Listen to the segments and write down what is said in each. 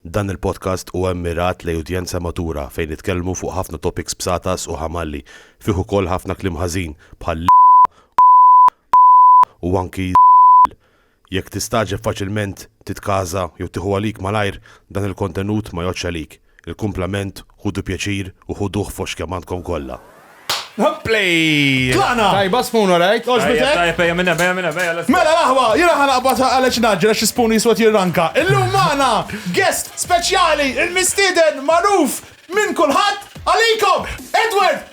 Dan il-podcast huwa mmirat lejn udjenza matura fejn nitkellmu fuq ħafna topics bsatas u ħamalli, fih ukoll ħafna kliem ħażin bħal l, u anki z, jekk tistagħġeb faċilment titkaża jew tieħu għalik malajr dan il-kontenut ma jgħoddx għalik, il-kumplament Ħudu pjaċir u ħuduh f'għoxx kemm għandkom kollha. Play! Tlaqna! Tajba spoon alright? Għoġbet hekk? Tajjeb ejja minn hemm, ejja minn hemm, ejja let's go. Mela l-aħwa, jiena ħa naqbadha għaliex ngħaġġel għax is-spoon jiswa qed jirranka. Illum magħna guest speċjali, il-mistieden magħruf minn kulħadd, għalikom, Edward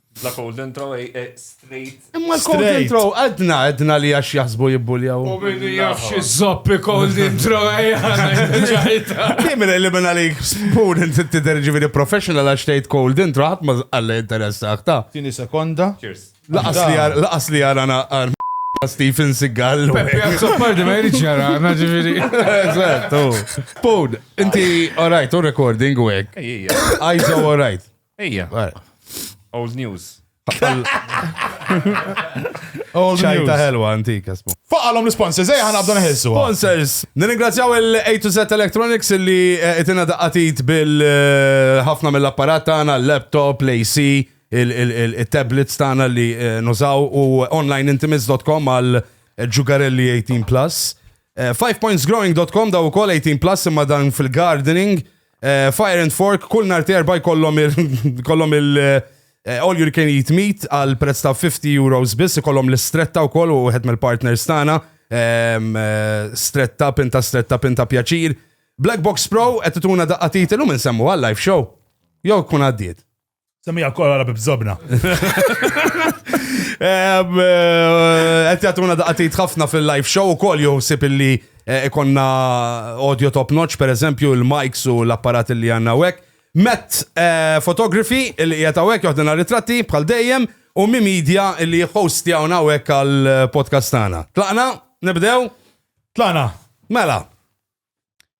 La cold intro, eh, eh, straight. Imma l-cold Straight. intro, għadna, għadna li għax jaħsbu jibbuljaw. U minnu jaf xi zoppi cold intro ejja. Kim li minn għalik spoon inti tidher ġifieri professional għax tgħid cold intro ħadd ma għalla interessa ta. Tini sekonda. Cheers. Laqas li għar- laqas li għara naqar Stephen Seagal. Peppi Zappardi ma jridx jara, għana ġifiri. Eżatt, u. Spoon, inti alright, u recording u hekk. Ejja. Għajza u alright. Ejja. Old news. Old news. ħelwa antika smu. Faqalhom l-sponsors, ejja ħanabdu neħilsu. Sponsors. Nirringrazzjaw il-A to Z Electronics li eh, itina daqqatit bil-ħafna eh, mill-apparat tagħna, l-laptop, l-AC, il-tablets tagħna li eh, nużaw u onlineintimates.com għal ġugarelli 18 plus. 5pointsgrowing.com daw ukoll 18 plus imma dan fil-gardening. Eh, Fire and Fork, kull nar terba jkollhom il-kollhom il- eh, All you can eat meat għal prezz ta' 50 euros biss, ikollhom l-istretta wkoll u wieħed mill-partners tagħna. ehm, eh, Stretta, pinta stretta, pinta pjaċir. Black Box Pro qed tituna daqqa titil u minn semmu għal live show. Jew kun għaddiet. Semija kolla la bibżobna. Għet jatuna daqatit ħafna fil-live show u koll joħsib illi eh, ikonna audio top notch, per eżempju, il-mics u l-apparat li għanna wek. Met eh, fotografi li jgħet għawek joħdina ritratti bħal dejjem u mi media li host jgħawna għawek għal-podcast eh, tana. Tlaqna, nibdew? Tlaqna. Mela.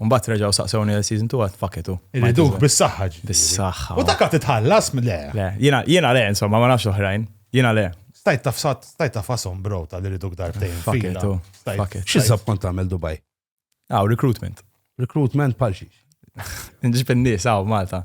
U mbagħad reġgħu saqsewni għal season 2 għad faketu. Irriduh bis-saħħa ġifieri. Bis-saħħa. U dak titħallas le. Le, jiena jiena le insomma ma nafx oħrajn. Jiena le. Stajt tafsat, stajt tafasom bro ta' li riduk darbtejn. Faketu. Faketu. X'iżab kont tagħmel Dubai? Aw, recruitment. Recruitment pal xiex. Nġib in-nies aw Malta.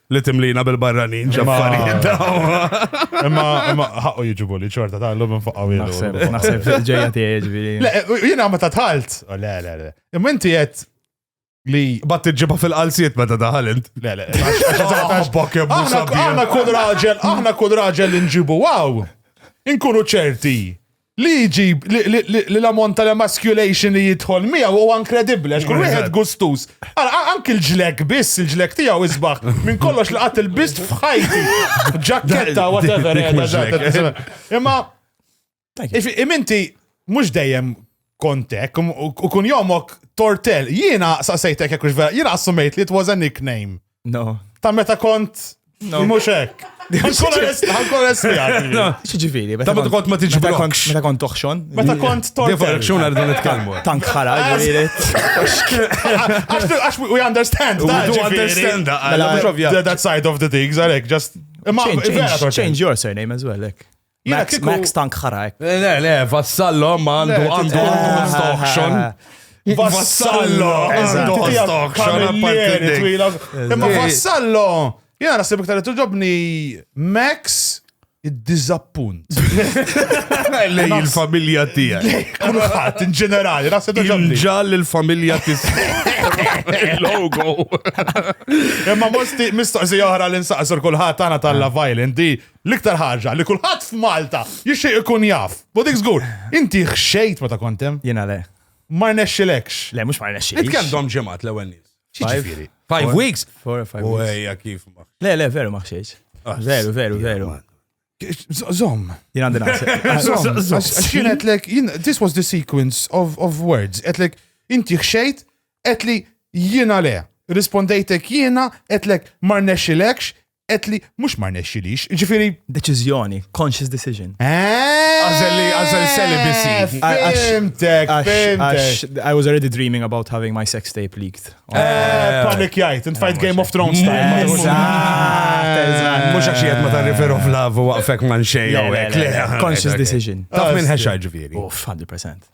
li timlina bil-barranin ġaffarijiet Imma imma ħaqqu jiġibu li ċorta ta' l-lum nfaqaw Naħseb, naħseb ġejja tiegħi ġifieri. Le, jiena ma ta' tħalt. Oh, le, le, le. Imma inti qed li. Bat tiġiba fil-qalsiet meta daħal int. Le, le. Bok jebbu Aħna sabiħ. aħna kull raġel, aħna kull raġel li nġibu waw. Inkunu ċerti li jġib li l-ammont tal-emasculation li jidħol miegħu huwa inkredibbli għax kull wieħed gustuż. Anki l-ġlek biss, il-ġlek tiegħu isbaħ minn kollox li qatt il-biss f'ħajti. Ġakketta whatever. Imma iminti mhux dejjem kontek u kun jomok tortel. Jiena saqsejtek jekk vera, jiena assumejt li it was a nickname. No. Ta' meta kont No. mhux hekk. Ħankun espjati. Xieġifiri, Ta' meta kont ma tiġi meta kont- blokx. meta kont toħxon. Meta kont Defa tortel. jek xuna rridu nitkellmu. Tank ħara, ġifiri. Għax għax we understand. We that, do ġifieri. understand that, Mela, mhux ovvja. That- That side of the things, għalek, just. Imma Change- vera change- tortel. Change your surname as well, ek. Max, Max tank ħarajk. Eh, le, le, vassallo ma għandu għandu għandu auction. Vassallo għandu għandu auction. Imma vassallo, jena nasib iktar li tuġobni Max id-dizappunt. Lej il-familja tijaj. Kulħat, in ġenerali, rasa doġobni. Ġal il-familja tijaj. Il-logo. Imma mistoqsi oħra l-insaqsur kulħat għana tal-la violent di L-iktar ħaġa li kulħadd f'Malta jixtieq ikun jaf. U dik żgur, inti ħxejt meta kont hemm? Jiena le. Ma rnexxilekx. Le, mhux ma rnexxilix. Int kemm dom ġimgħat l-ewwel nies? X'jiġifieri? Five weeks? Four or five weeks. Ejja kif ma. Le, le, veru ma ħxejx. Ah, veru, veru, veru. Zom. Jien għandi naqsek. Jien għetlek, this was the sequence of, of words. Għetlek, inti xejt, għetli jiena le. Rispondejtek jiena, għetlek marnexilekx, qed li mhux ma rnexxilix, ġifieri. Deċiżjoni, conscious decision. Eh! Għażel li għażel celibacy. Fimtek, fimtek. I was already dreaming about having my sex tape leaked. Eh, eh. panic jajt, int fajt Game of Thrones time. Mhux għax jgħid ma tarrifer of love u waqfek man xejn. Conscious decision. Taf minn ħexa ġifieri. 100%.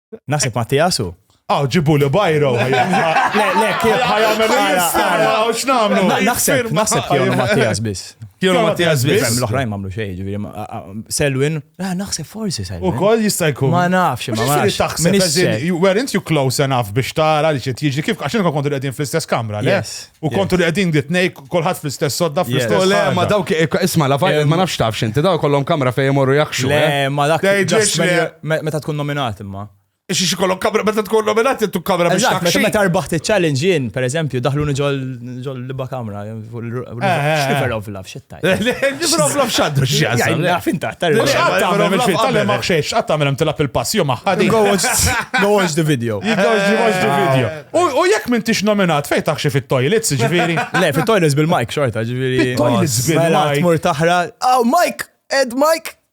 Nasib Mattias u. Aw, ġibu li bajro. Le, le, kif ħajamel jistara, u xnamlu. Naħseb, naħseb kienu Mattias bis. Kienu Mattias bis. L-oħrajn mamlu xej, ġiviri. Selwin, ah, naħseb forsi Selwin. U koll jistajku. Ma nafx, ma nafx. Taħseb, weren't you close enough biex tara li ċet jiġi kif, għaxin kon kontu għedin fl-istess kamra, le? U kontu li għedin dit nej, kolħat fl-istess sodda fl-istess. Le, ma dawk, e, isma la fajl, ma nafx tafx inti, daw kollom kamra fej morru jakxu. Le, eh? ma dak ġex li. Meta tkun nominat imma. Ixi xi kollok kamra, meta tkun nominat intu kamra biex takxi. Meta arbaħt il-challenge jien, per eżempju, daħlu ġol liba kamra, eh, eh. xrifer ovla, fxetta. Nifroflof xaddu xjazam. Naf intaħt tal Mux għatta għamil fil tal maħx xiex, għatta għamil tilap il-pass, jom maħħadi. Go watch the video. Go watch the video. U jek minn tix nominat fej taħxi fit-toilets, ġviri. Le, fit-toilets bil-mike xorta, ġviri. Fit-toilets bil-mike. Mur taħra, oh, Mike, Ed Mike.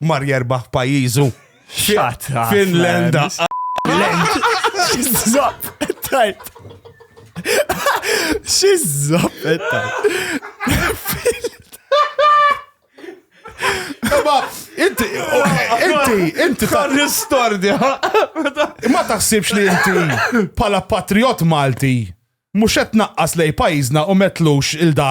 mar jerbaħ pajjiżu. Shut up, Finlanda. Xizzop, tajt. Xizzop, tajt. Ma, inti, inti, inti. Kan l-istordja. Ma taħsibx li inti pala patriot Malti, mux qed naqqas lej pajizna u metlux il-da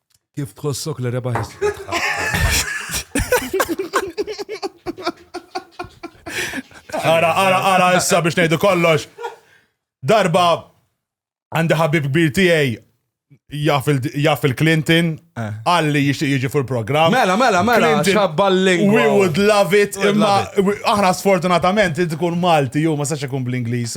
Kif tħossok li rebaħ Ara, ara, ara, issa biex nejdu kollox. Darba għandi ħabib kbir tiegħi jaff il-Clinton eh. għalli jixtieq jiġi fuq il-programm. Mela, mela, mela, xabballing. We would love it, imma aħna sfortunatament tkun Malti, ju ma sax ikun bl-Ingliż.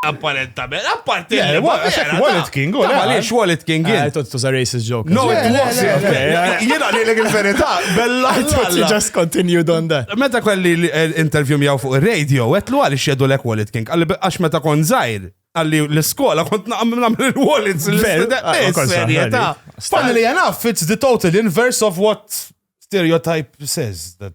apparentament, apparti li Wallet King, u għaliex Wallet King. Eh, Tot tuża racist joke. No, it was. Jena li l verità bella. Just continued on that. Meta kelli eh, interview miegħu fuq ir-radio, għetlu għal xedu lek Wallet King, għalli għax meta kon zaħir, għalli l-skola kont naqam namlu l-wallets. Serjeta. Fanni li jena, it's the total inverse of what stereotype says that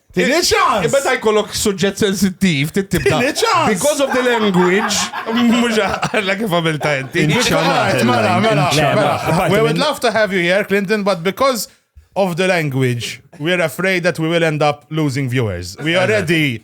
Tini ċans! Imma ta' jkollok suġġett sensittiv, tittibda. Tini ċans! Because of the language, mux għalla kif għamilta inti. Mela, mela, mela. mela. We would love to have you here, Clinton, but because of the language, we are afraid that we will end up losing viewers. We already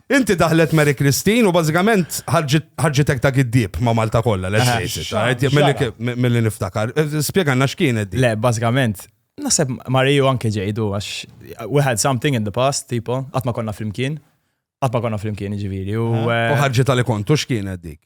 Inti daħlet Mary Christine u bażikament ħarġitek ta' giddieb ma' Malta kollha, let's eh, face it. Milli niftakar. Eh, spjegalna x'kienet di. Le, bażikament, naħseb Mariju anke ġejdu għax we had something in the past, tipo, qatt ma konna flimkien. Qatt ma konna flimkien ġifieri u. Eh, u ħarġi tal kontu x'kienet dik?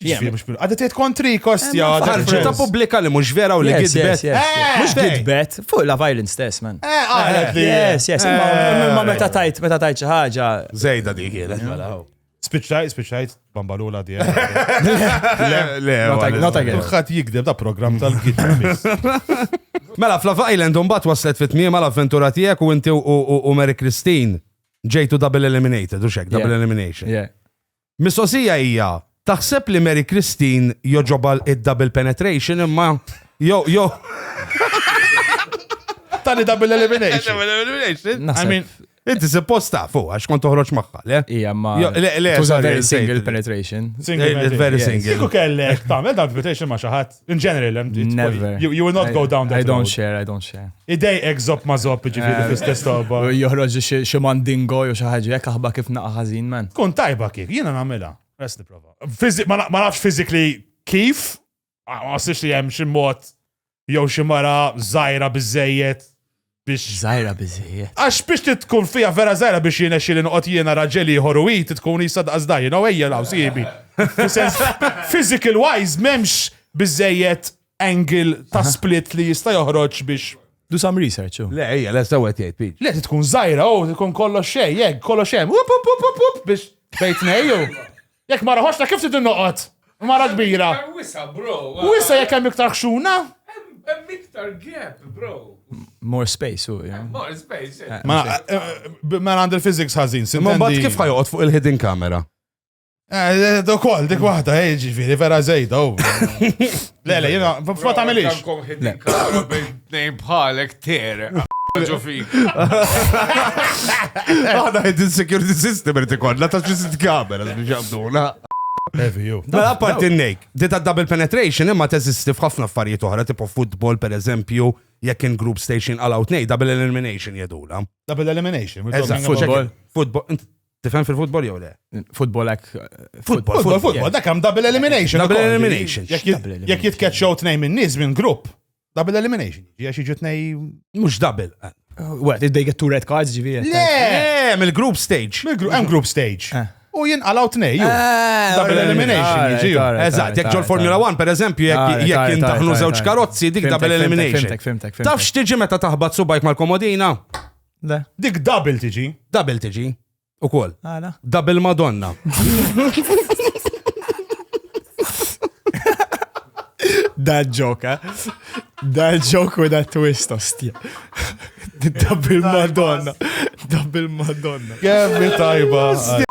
Ġifieri mhux bil- Għadha tgħid kontri kostja. Eh, Ħarġet ta' pubblika li mhux vera u li Yes, gidbet. yes, yes. Eh, Mhux fej. gidbet, fuq la violence stess, man. Eh, qalet li. Yes, yes, imma Eh. imma meta tajt, meta tajt xi ħaġa. Zejda dik kienet mela. oh. Spiċċajt, spiċċajt, bambalula di. Le, Not ag- not again. Kulħadd jikdeb da program tal-gidra biss. Mela, f'Love Island unbat waslet fit tmiem għal avventura tiegħek u inti u- u u Mary Christine ġejtu double eliminated, u xek, double Yeah. elimination. Yeah. Mistoqsija hija, taħseb li Mary Christine jogħġobha id-double penetration imma jo jo Tani double elimination. Double elimination. I mean, Inti suppost ta' fuq, għax kont toħroġ maħħa, le? Ija, ma. Le, le, very single penetration. Single, very single. Kiku kellek, ta' mel double penetration ma xaħat. In general, um, it's- Never. You, you will not go down that I don't road. share, I don't share. Idej ek zop ma zop ġifiri fl-istess tobba. U Joħroġ xi- xi mandingo jew xi ħaġa jekk aħba kif naqa' ħażin man. Kun tajba kif, jiena namela. Res niprofa. Fizi- Ma na- ma nafx fizikli kif, ma ma sirx li jem ximot jew ximara zaħira bizzejiet biex. Żgħira biżejjed. Għax biex tkun fija vera żgħira biex jirnexxieli noqgħod jiena raġel ieħor u hi tkun isa daqs da, you know, ejja hawn sieħbi. Physical wise m'hemmx biżejjed angle ta' split li jista' joħroġ biex Do some research. Oh. Le, ejja, le, sewa tgħid Pete. Le tkun żgħira, oh, tkun kollox xejn, jekk kollox hemm. Up up up up up biex bejt ngħidu. Jekk mara ħoxna kif trid noqgħod? Mara kbira. Wisa, bro. Wisa jekk hemm iktar xuna? Hemm iktar gap, bro. More space, u. More space. Eh, ma eh, għand il-physics ħażin. Ma bat kif ħajoqgħod fuq il-hidden camera? Eh, Dokol, dik waħda, ġifieri vera żejda. Le, le, jena, fuq tagħmilix. Għandkom ħidin kalma bejn tnejn bħalek ter. Ġo fik. Għada ħidin security system irid ikollna ta' xi sit kamera biex jabduna. Mela apparti n-nejk, di ta' double penetration imma teżisti f'ħafna affarijiet oħra, tipo football per eżempju, jekk in group station għalaw tnej, double elimination jedula. Double elimination. Eżatt, football. Football. Tifhem fil-futbol jew le? Futbol hekk. Futbol, futbol, futbol, dak hemm double elimination. Double elimination. Jekk jitkeċċew tnejn minn nies minn grupp, double elimination. Jekk jiġu tnejn. Mhux double. Eh. Wet, id get two red cards ġivi. Le, eh, mill-group stage. Hemm group stage. Eh. U jien għalaw tnej, ju. Double elimination, ġiju. Eżat, jek ġol Formula 1, per eżempju, jek jintaħnu zewċ karozzi, dik double elimination. Taf xtiġi meta taħbat subajk mal-komodina? Le. Dik double tiġi. Double tiġi. U kol. Għala. Double Madonna. Da ġok, eh? Da ġok u da twist, ostja. Double Madonna. Double Madonna. Kemmi tajba.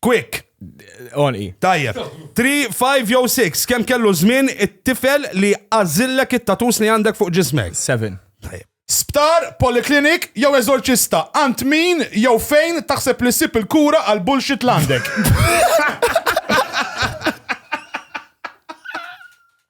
Quick! Onqi. Tajjeb. 3, 5 jew 6, kemm kellu żmien it-tifel li għażillek it-tatus li għandek fuq ġismek? 7. Tajjeb. Sptar, poliklinik jew eżorċista, għand min jew fejn taħseb li ssib il-kura għal bullshit l-għandek?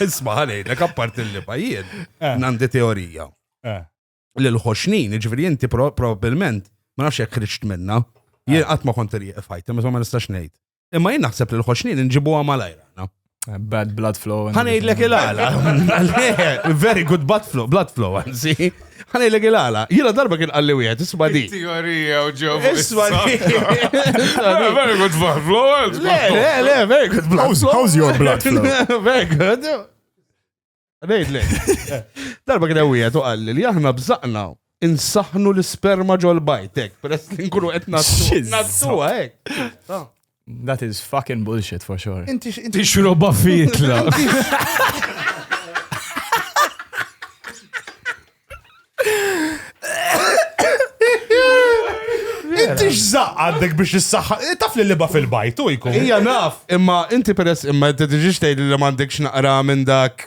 Isma għalejlek, apart il-liba jien, eh. nandi teorija. Eh. Li l-ħoxnin, ġviri jinti probabilment, ma nafx jek kriċt minna, jien eh. għatma konti li jifajt, imma ma nistax nejt. Imma jien naħseb li l-ħoxnin nġibu għamalajra. Bad blood flow. Għanejdlek il-għala. Very good blood flow, blood flow, għanzi. Ħanejlek il-għala, jina darba kien għalli wieħed, isma di. Teorija u ġew. Isma di. Very good blood flow. Le, le, le, very good blood flow. How's your blood flow? Very good. Nejt le. Darba kien wieħed u għalli li aħna bżaqna insaħnu l-sperma ġol bajtek, peress li nkunu qed nassu. Nassu hekk. That is fucking bullshit for sure. Inti xroba fitla. Inti x'żaq għandek biex issaħħa. Eh, taf li liba fil-bajt u jkun. Ija naf, imma inti peress imma t-tiġiġ tgħid li m'għandekx naqra minn dak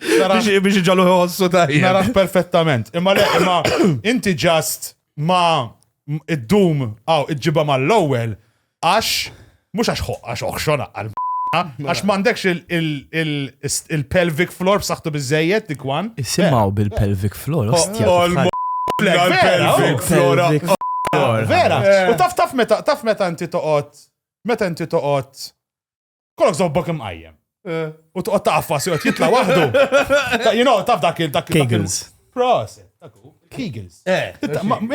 Biex iġalu jħossu tajjeb. Naraħ perfettament. Imma le, imma inti ġast ma id-dum għaw iġġiba ma l-ewel għax mux għax għax oħxona għal Għax mandekx il-pelvic floor b'saħtu bizzejiet dik wan. Isimaw bil-pelvic floor, ostja. Pelvic floor. Vera. U taf taf meta taf meta inti toqgħod meta inti toqgħod Kollok zobbok imqajjem. Eh. U toqgħod taqfas joqgħod jitla waħdu. You know, taf dak il-dak Kegels. Proset, Kegels. Eh,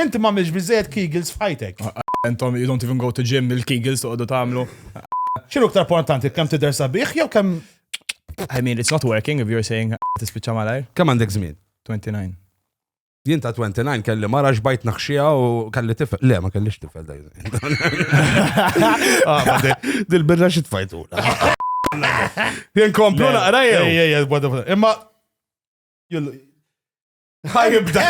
inti ma mhix biżejjed Kegels f'ħajtek. Ah, ah, intom you don't even go to gym il-Kegels toqgħodu tagħmlu. X'inhu aktar importanti kemm tidher sabiħ jew kemm I mean, it's not working if you're saying ah, tispiċċa malajr. Kemm għandek żmien? 29. Jien ta' 29 kelli mara xbajt naħxija u kelli tifel. Le, ma kellix tifel dajn. Ah, Dil-birra xi tfajtu. Jien komplu naqra jew. Ej, ej, bada, bada. Imma. jillu- Ħajibda.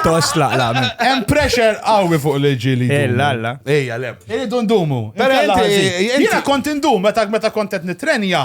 Toslaq la. Hemm pressure qawwi fuq l-ġi li. Eh, la, la. Ejja, le. Iridu ndumu. Però Inkella inti- ħażin. inti- Jiena kont indum meta meta kont qed nitrenja.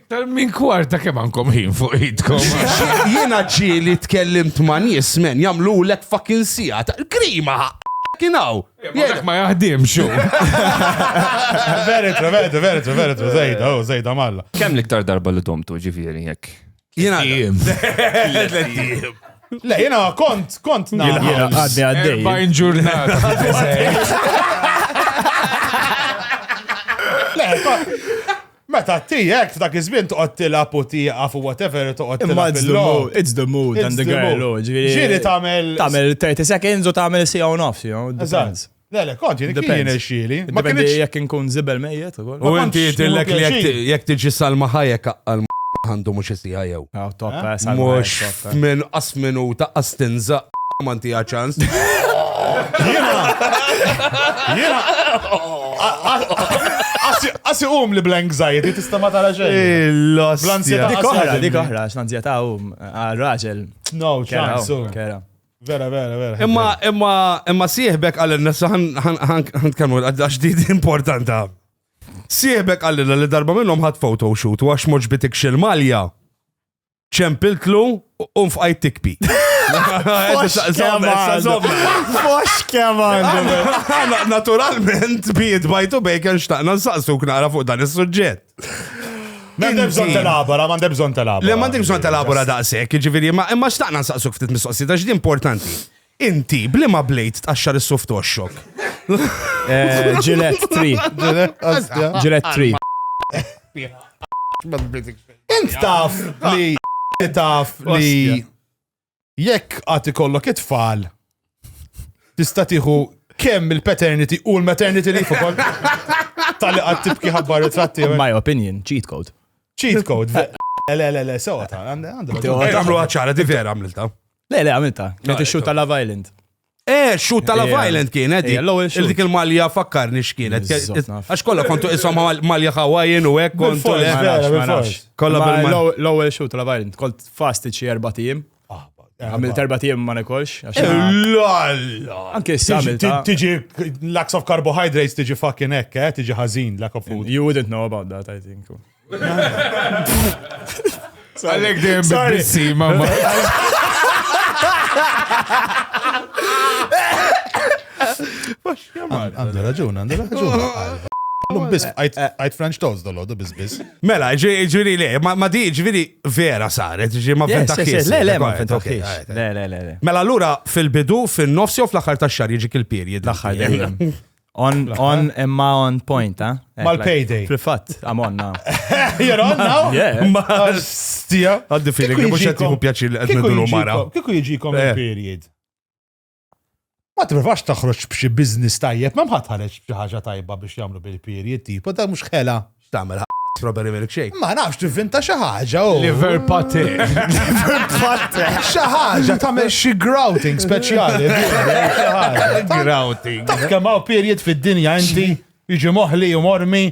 Tal-min kwarta kemm għandkom ħin fuq idkom. Jiena ġieli tkellimt ma' nies men jagħmlu lek fucking sija ta' krima kinaw. Jek ma jaħdimx. Veritru, veritru, veritru, veritru, zejda, u oh, zejda malla. Kemm l-iktar darba li tomtu ġifieri jekk? Jiena jiem. Le, jiena kont, kont na. Jiena għaddi għaddi. Bajn ġurnata. Le, Meta tijek f'dak iż-żmien toqgħod tilab u tieqaf u whatever toqgħod tilab. It's the mood and the girl. Oh, ġifieri tagħmel. Tagħmel 30 seconds u tagħmel sija u nofs, you know. Depends. Le, le, kont jien kien xili. Ma kienx jekk inkun zibel mejjet ukoll. U inti tillek jekk tiġi salma ħajek għal għandu mhux isija jew. Ah, top, eh? eh, salva, Mux eh, top, eh. minn qas minuta qas tinza manti ċans. Jena! Jena! Asi um li bl-anxiety tista ma tara xejn. Il-lost. Bl-anxiety. Dik oħra, dik oħra, x'anxiety um għal-raġel. No, ċans. Kera. Vera, vera, vera. Imma, imma, imma sieħbek għal-nessa ħan tkellmu għax di importanta. Sieħbek qalilna li darba minnhom ħadt photo shoot u għax moġbitik xil malja ċempiltlu u nfqajt tikpi. Fox keman. Naturalment, biet bajtu bejken xtaqna nsaqsu knara fuq dan is-suġġett. Mandem bżon telabora, mandem bżon telabora. Le, mandem bżon telabora daqsek, ġiviri, ma xtaqna nsaqsu ftit mistoqsi, ta' ġdi importanti. Inti, b'liema blade tqaxxar is-suf toxxok? Gillette tree. Gillette tree. Int taf li taf li jekk għad ikollok it-tfal tista' tieħu kemm il-paternity u l-maternity leave ukoll tal-li għad tibki ħabbar it-tratti. My opinion, cheat code. Cheat code. Le, le, le, sewa ta' għandu. Għamlu għacċara, di vera għamlilta. Le, le, għamilta. Kienet ix-xut ta' Love Island. Eh, xut ta' Love Island kienet. Eh, l-ewwel xut. Dik il-malja fakkarni x'kienet. Għax kollha kontu isom malja Hawaiian u hekk kontu. Kollha bil-malja. L-ewwel xut ta' Love Island, kont fastiċi erba' tim. Ah, għamil terba tijem ma nekolx. Eh, Lalla! Anke s-samil. Tiġi lacks of carbohydrates tiġi fucking ekk, eh, tiġi ħazin, lack of food. You wouldn't know about that, I think. Għalek dem bissi, mamma. Għandu raġun, għandu raġun. Lum bis, għajt French toast dolodu bis bis. Mela, ġiri le, ma di ġiri vera saret, ġiri ma fenta kis. Le, le, ma fenta kis. Le, le, le. Mela, l-ura fil-bidu, fil-nofsi u fl-axar ta' xar jġi kil-period. L-axar On, on, imma on point, ha? Eh? Eh, Mal-payday. Fil-fat, I'm on now. You're on now? Yeah. Stija. Għaddi feeling li mux jattiħu pjaċir li għedna dulu mara. Kiku jġikom eh. il-period. Ma t-provax taħroċ bċi biznis tajjeb, ma mħat ħareċ ħaġa tajba biex jamlu bil-period, tipo, da mux xela. X'tagħmel ħa strawberry milkshake? Ma nafx tivvinta xi ħaġa u. Liver pate. Liver pate. Xi ħaġa tagħmel xi grouting speċjali. Grouting. Taf kemm hawn period fid-dinja inti jiġi moħli u mormi.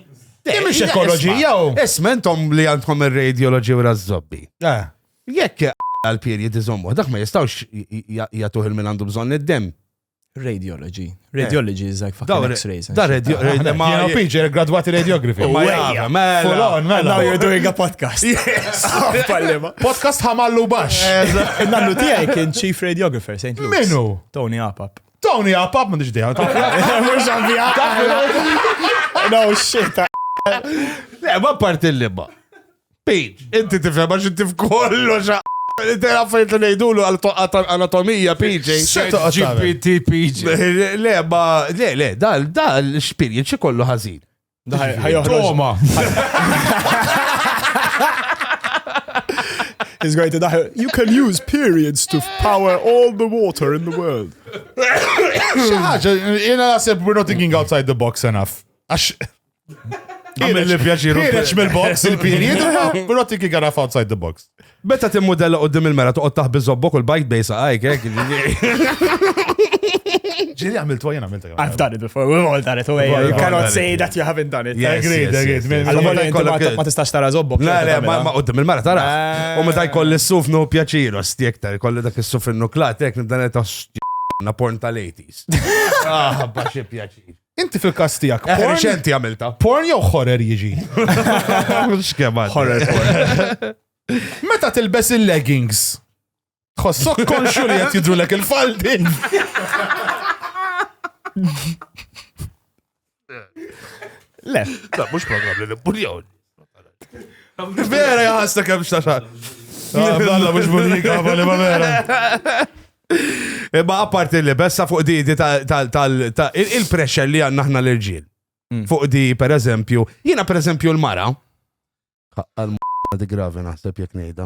Kemm ix ekoloġija u. Isma' intom li għandkom ir-radioloġi u rażżobbi. Eh. Jekk għal-period iżommu, dak ma jistawx jgħatuħ il-min għandu bżonn id-dem. Radiology. Radiology is like fucking x-rays. Da radio, radio, ma jgħu pinġer gradwati radiografi. Ma jgħu, mela. mela. Now you're doing a podcast. Yes. Podcast ħamallu bax. Nannu tijaj kien chief radiographer, St. Louis. Minu? Tony Apap. Tony Apap, ma diġdija. Mux għavija. No shit. Le, ma parti l-libba. Pete, inti tifhem għax inti f'kollox Inti għaffajt li nejdulu għal-anatomija, PJ. GPT, PJ. Le, ma, le, le, dal, dal, xpirjen xie kollu ħazin. Toma. He's going to die. You can use periods to power all the water in the world. Xaħġa, jena nasib, we're not thinking outside the box enough. Għax, Għamil li pjaċiru. Ħireċ mill-box il-period, pero ti kick għaraf outside the box. Betta tim modella u dim il-mera toqgħod taħbi zobbok u l-bajt bejsa għajk, għek. Ġili għamil tuwa jena għamilta. I've done it before, we've all done it, away. You cannot say that you haven't done it. Yes, agreed, agreed. Għal-moli ma tistax tara zobbok. La, la, ma u dim il-mera tara. U meta jkoll il-suf no pjaċiru, stjek tar, jkoll dak il-suf il-nuklat, jek nibdan il-tas na porn tal-80s. Ah, baxi pjaċir. Inti fil-kas tijak. Eh, porn- Reċenti għamilta. Porn jew horror jiġi. Xkema. Horror porn. Meta tilbes il-leggings. Tħossok konxu li qed jidrulek il-faldi. Le, La, mux program li l-buljon. Vera jgħasta kem xtaxar. Għalla mux bunika, għabali ma vera. Imma apparti li bessa fuq di tal-pressure li għanna ħna l-irġiel. Mm. Fuq di, per eżempju, jina per eżempju l-mara. Għal di gravi naħseb jek nejda.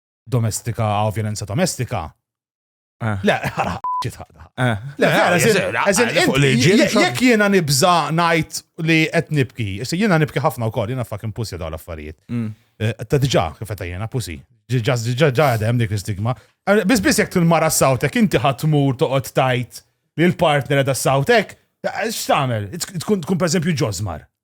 domestika għaw violenza domestika. Eh. Le, ħara ċitħada. Eh. Le, ħara, jek jena nibza najt li qed nibki, jena nibki ħafna u kol, jena fucking pussy daw l-affarijiet. Mm. Eh, ta' diġa, kifeta jena pussy. Ġa għadem dik l-stigma. Bis bis jek t-mara sawtek, inti ħatmur toqgħod tajt li l-partner da sawtek, x'tagħmel? Tkun per eżempju ġozmar.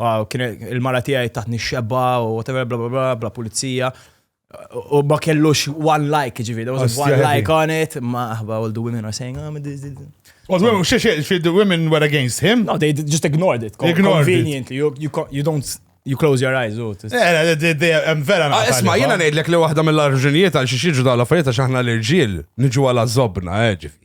Wow, kien il-mara tiegħi taħtni xebba u whatever bla bla bla bla pulizija. U ma kellux one like, ġivi, there was one like on it, ma aħba all the women are saying, oh, ma this, this. All the women, she, she, she, the women were against him? No, they just ignored it. Ignored Conveniently, it. You, you, you don't You close your eyes, oh, eh, eh, eh, oh. u. Vera ah, Isma, jena nejdlek li wahda mill-arġunijiet għal xiex iġu dal-affarijiet għax aħna l-irġiel niġu għal zobna, ġifi.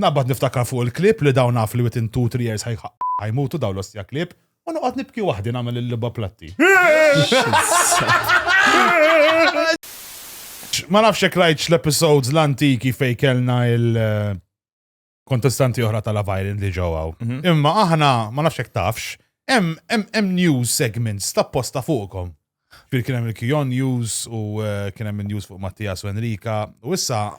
Naqbad niftakar fuq il-klieb li dawn naf li within two, three years ħaj ħajmutu dawn l-ostja klieb u noqgħod nibki waħdi nagħmel il-logħba platti. Ma nafx jekk rajtx l-episodes l-antiki fejn kellna il- eh, kontestanti oħra ta' Love Island li ġew hawn. Mhm. Imma aħna ma nafx jekk tafx, hemm hemm hemm news segments ta' posta fuqkom. Fil kien hemm il-Kion News u eh, kien hemm news fuq Mattias u Enrika u issa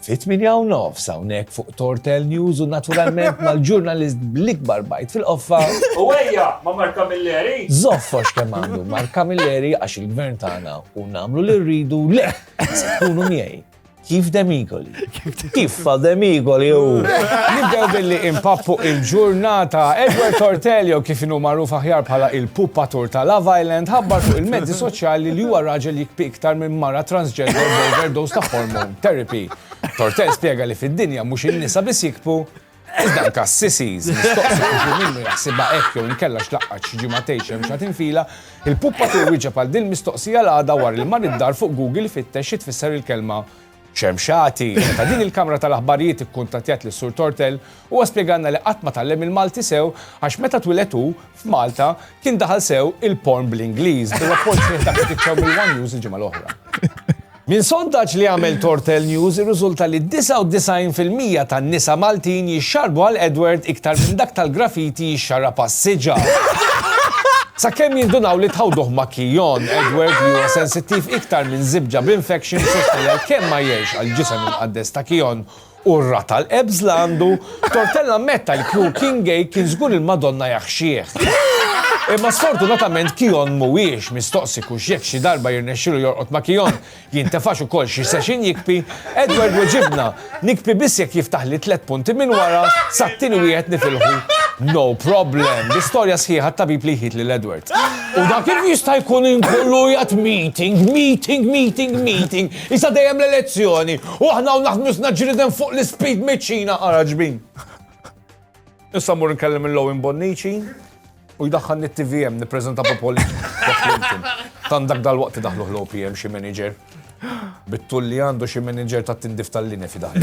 Fit-tmienja u nofs hawnhekk fuq Tortel News u naturalment mal-ġurnalist bl-ikbar bajt fil-qoffa. U ejja ma' Mark Camilleri! Żoffox kemm għandu Mark Camilleri għax il-Gvern tagħna u nagħmlu li rridu le! Se tkunu miegħi. Kif demigoli. Kif fa demigoli u. Nibdew billi impappu il-ġurnata. Edward Tortelio kif inhu magħruf aħjar bħala il-pupatur ta' Love Island ħabbar fuq il-mezzi soċjali li huwa raġel jikpi iktar minn mara transgender b'overdose ta' hormone. Therapy. Tortel spjega li fid-dinja mhux in-nisa biss jikbu, iżda anke s-sissies. Mistoqsi kif minnu jaħsibha hekk jew inkella x'laqqat xi ġimgħa tgħix hemm xi tinfila, il-puppatur wieġeb għal din mistoqsija l-għada wara li mar id-dar fuq Google ifittex xi tfisser il-kelma xemxati. Meta din il-kamra tal-aħbarijiet ikkuntattjat lis-Sur Tortel, huwa spjegalna li qatt ma tgħallem il-Malti sew għax meta twiled hu, f'Malta, kien daħal sew il-porn bl-Ingliż, bir-rapport sħiħ dak li titxew mill-One News il-ġimgħa l-oħra. Minn sondaġġ li għamel Tortell News irriżulta li 99 fil-mija tan-nisa Maltin jixxarrbu għal Edward iktar minn dak tal-graffiti jixxarrab għas-siġar. Sakemm jindunaw li tħawduh ma' Keon, Edward li huwa sensittiv iktar minn żibġa b'infection sostna li għalkemm ma jgħirx għall-ġisem imqaddes ta' Keon, u r-rata l-qebż li għandu, Tortella ammetta li Crew King Gay kien żgur il-Madonna jaħxih. Imma sfortunatament Kion mhuwiex mistoqsi kux jekk xi darba jirnexxilu jorqod ma' Kion, jintefax ukoll xi session jikpi, Edward weġibna, Nikpi biss jekk jiftaħli tliet punti minn wara, sat-tieni wieħed nifilħu no problem. L-istorja sħiħa t-tabib li jħit lil Edward. U dak kif jista' jkun inkollu qiegħed meeting, meeting, meeting, meeting, Isa dejjem l-elezzjoni u aħna hawn naħdmu isna ġrieden fuq l-ispid miċ-Ċina ara ġbin. Issa mmur nkellem lil Owen Bonnici u jdaħħalni t-TVM nippreżenta Popoli. Tant dak dal-waqt idaħluh l-OPM xi manager. Bit-tul li għandu xi manager tat-tindif tal-linja fidaħlu.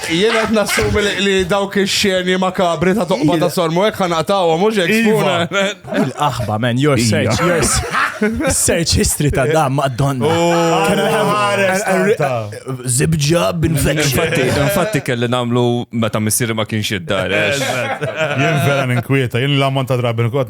Jien qed nassumi li dawk ix-xeni makabri ta' toqba ta' sormu hekk ħanaqtawhom mhux hekk iva. Il-qaħba man, your search, your search history ta' da madonna. Zibġa bin Infatti, infatti kelli nagħmlu meta missieri ma kienx id-dar. Jien vera ninkwieta, jien l-ammont ta' drabi nkot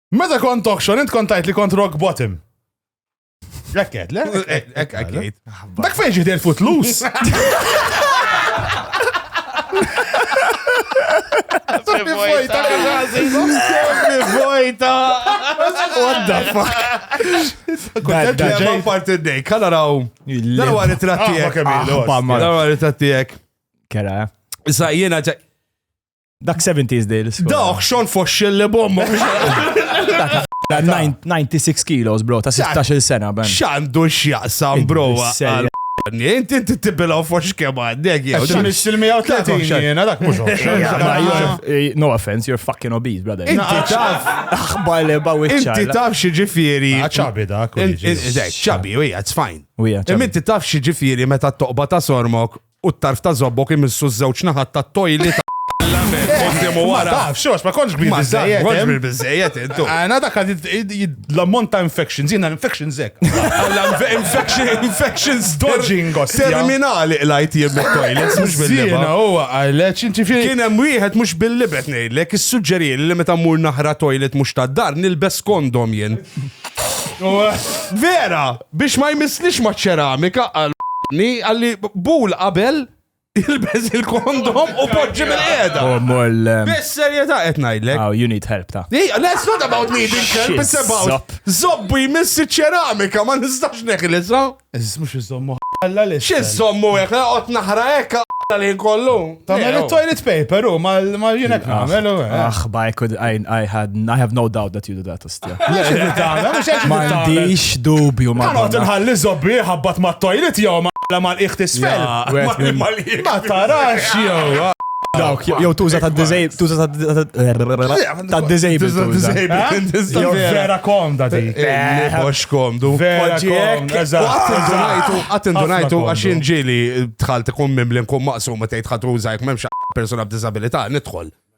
Meta kont auction, int kont tajt li kont rock bottom. Lekket, le? Ek, ek, ek. Dak fejn ġiet il-futlus. Vojta, vojta. What the fuck? Kont ġejma parti d-dej, kalla raw. Darwa ritrattijek. Darwa ritrattijek. Kera. Issa jiena ġej. Dak 70s deals. Dawk xon foxxil li bomba. 96 kilos, bro, ta' 16 sena, ben. Xandu xjaqsam, bro. Inti inti tibbilaw fox kemm għandek jew. Xi nixtil 130 jiena dak mhux. Eh, no offense, you're fucking obese, brother. Inti taf aħbar li bawi Inti taf xi ġifieri. Ah, ċabi dak. Ċabi, u hija, it's fine. Imma inti taf xi ġifieri meta toqba ta' sormok u t-tarf ta' żobbok imissu ż-żewġ naħat tat-tojli ta' l-għaben quddiem u wara. Ma tafx, xorx, ma kontx kbir biżżejjed. Ma kontx kbir biżżejjed int. Għana dak l-ammont ta' infections, jiena l-infections hekk. Infections dodging. Terminali qlajt jien mit-toilets mhux bil-libgħa. Jiena huwa qalek inti fil. Kien hemm wieħed mhux bil-libgħa qed ngħidlek, issuġġerieli li meta mmur naħra toilet mhux tad-dar nilbes kondom jien. Vera! Biex ma jmissnix maċ-ċeramika, qal Anni, għalli bul qabel ilbeż il-kondom u poġġi mill-qiegħda. Oh, mol. Bis-serjetà qed ngħidlek. Oh, you need help ta. Hey, let's not about needing help, it's about Zopp. zobbu jmiss iċ-ċeramika, ma nistax neħlisa. Eżis mux iżommu ħalla li. Xi zommu hekk, qod naħra hekk għalla li kollu. Tamel il-toilet paper u mal-jinek namel u. Aħ, ba, I could, I, I had, I have no doubt that you do that. M'għandix dubju ma. Għanot nħalli zobbi ħabbat ma' toilet jew ma' la mal iħt isfel. Ma tarax jew. Dawk, jew tuża ta' dizej, tuża ta' dizej. Jew vera komda di. Box komdu. Vera komdu. Għat indunajtu għax inġili tħal tkun mimli nkun maqsum ma tgħid ħatuża jek memx persona b'disabilità nidħol.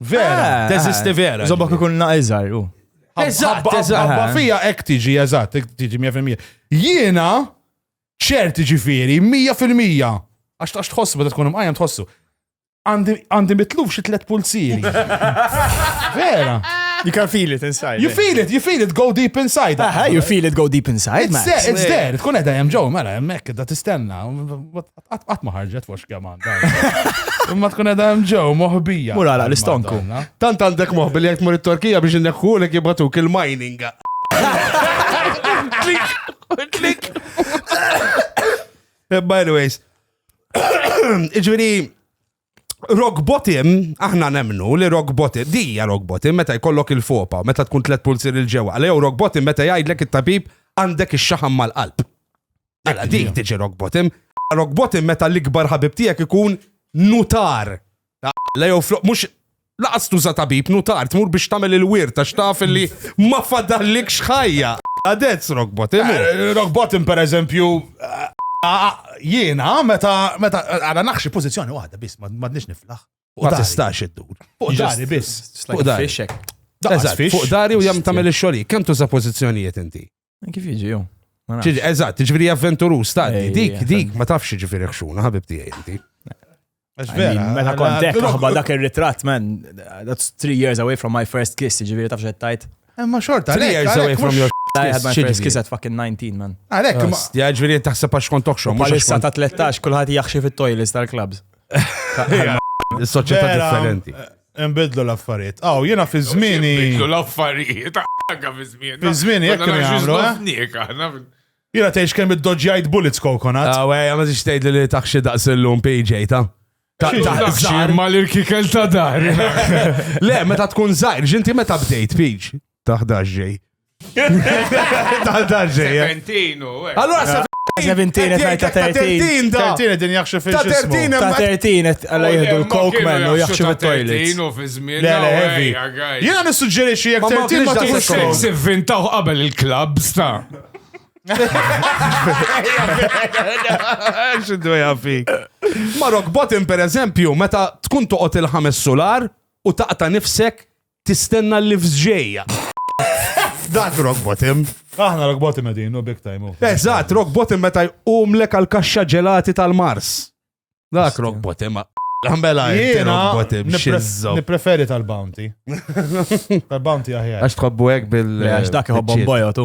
Vera, Ah, teżisti ah, vera. Zobok ikun naqizar, u. Eżatt, Ħabba- eżatt. ħabba fija ek tiġi, eżatt, ek tiġi 100%. Jiena ċerti ġifiri, 100%. Għax tax tħossu, bada tkun imqajjem tħossu. Għandi għandi mitluf xi tlet pulsieri. Vera. You can feel it inside. You feel it, you feel it, go deep inside. Aha, you feel it go deep inside, It's man. there, it's there. Tkun edha jem ġo, mela, jemmek, da tistenna. What the Qatt ma ħarġet fux kemm għandha. Imma tkun edha hemm ġew moħbija. Mura la l-istonku. Tant għandek moħbi li jekk mur it-Torkija biex inneħħu li jibatuk il-mining. Klik, klik. Eh, by the ways. Iġveri, Rock bottom, aħna nemnu li rock bottom, dija rock bottom meta jkollok il-fopa, meta tkun tlet pulzir il-ġewa, għalli jew rock bottom meta jgħidlek it-tabib għandek ix-xaħam mal-qalb. Għala, dik tiġi rock bottom. Rock bottom meta l-ikbar ħabib tiegħek ikun nutar. Għala, jew flok, mux Laqas tuża tabib, nutar, tmur biex tagħmel il-wirt għax taf li ma fadallikx ħajja. Għadez rock bottom. Rock bottom pereżempju jiena meta meta għara naħxi pożizzjoni waħda biss m'għadniex niflaħ. Ma tistax iddur. Fuq dari biss. Fuq dari. Fuq dari u jam tagħmel ix-xogħol. Kemm tuża pożizzjonijiet inti? Kif jiġi jew? Eżatt, ġifieri avventurus ta' dik, dik, ma tafx ġifieri xxuna, ħabib tiegħi inti. Mela kontek taħba dak ir-ritratt, man, that's three years away from my first kiss, ġifieri tafx qed tajt. Eh, ma xorta, three years away from your I had my first kiss at fucking 19, man. Għalek, ja ġviri taħseb għax kont tokxom. Palissa ta' 13, kullħat jaxxi fit-toilets tal-clubs. Soċieta differenti. Nbidlu l-affarijiet. Aw, jiena fi żmieni. Nbidlu l-affarijiet, għagħa fi żmieni. Fi żmieni, jekk kienu jagħmlu. Eh? Jiena tgħix kemm id-doġġjajt bullets kokonat. Aw, ej, ma tix tgħid li taħxi daqs illum PJ ta' Taħxi ma l-irkikel ta' dar. Le, meta tkun zaħir, ġinti meta bdejt, Piġ. Taħdax ġej. Tal tal-ġeja. Serpentinu, eh. Allora sa Ta' 17 qed jgħid ta' 13 da. 13 din jaħxu fil Ta' 13 Ta' 13 qed alla jieħdu l-coke man u jaħxu fit-toilet. Serpentinu fi żmien. Le, le, heavy. Jiena nissuġġerixxi jekk 13 ma tkunx Sex ivvintaw qabel il-clubs ta' Xindu jafik. Ma rock bottom per eżempju, meta tkun toqgħod il-ħames sular u taqta nifsek Tistenna l-lifts ġejja. Dak rock bottom. Aħna rock bottom edin, no big time. Oh. Eżat, rock bottom meta jqumlek għal kaxxa ġelati tal-Mars. Dak rock bottom. Għambela, jena nipreferi tal-bounty. Tal-bounty aħjar. Għax tħobbu għek bil- Għax dak jħobbom bojo tu.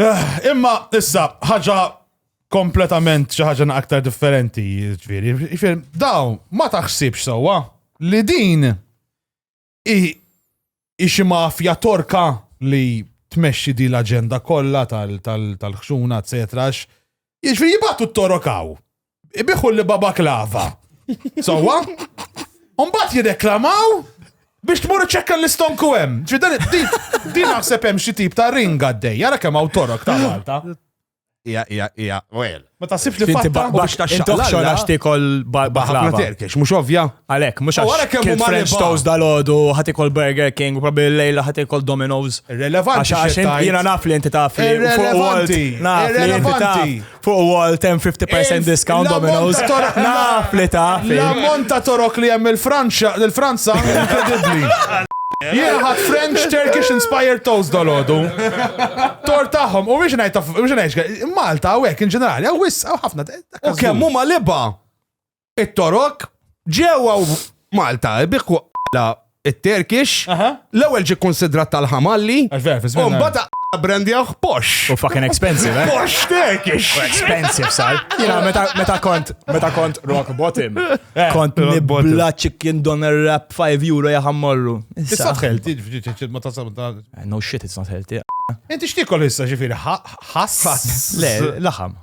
Eh, imma, issa, ħaġa kompletament xi ħaġa aktar differenti, ġifieri. Ġifieri, dawn ma taħsibx sewwa li din hi xi mafja torka li tmexxi di l-aġenda kollha tal-ħxuna, eċetera. Jiġifieri jibgħatu t-torokaw. ibiħu li baba klava. Sawa? Umbat jirreklamaw biex tmur ċekka l-istonku hemm. Ġi dan din naħseb hemm xi tip ta' ringa għaddej, jara kemm hawn torok ta' Malta. Ija, ija, ija, well. Ma ta' sibx li fatta u biex ta' xaqla għax tikol baħlava. Terkex, mux ovvja. Għalek, mux għax kil French toast dal-ħodu, ħatikol Burger King, u probabil lejla ħatikol Domino's. Relevanti. Għax jina naf li inti taf li. Relevanti. Naf li inti taf. fuq wall 10-50% discount Domino's. Naf li ta' L-ammont ta' torok li hemm il-Franċa, l-Franza, inkredibbli. Jien ħadd French Turkish inspired toast dolodu. Tor tagħhom, u biex ngħid biex ngħid Malta u hekk in ġenerali, hawn wis hawn ħafna. U kemm huma liba. it-Torok, ġewwa u Malta, biħku la it-Terkix, Aha. l-ewwel ġi konsidrat tal-ħamalli, Għax vera, fi u żmien mbagħad aqqa brandjaħ pox. U fucking expensive, eh? Pox Terkix. Expensive, sal. Jina, meta, meta kont, meta kont rock bottom, Eh, kont rock bottom. nibla chicken doner wrap 5 euro jaħammorru. Issa tħel, tiġi ma tasab ta' No shit, it's not healthy. Inti x'tikol issa ġifieri ħass? Le, laħam.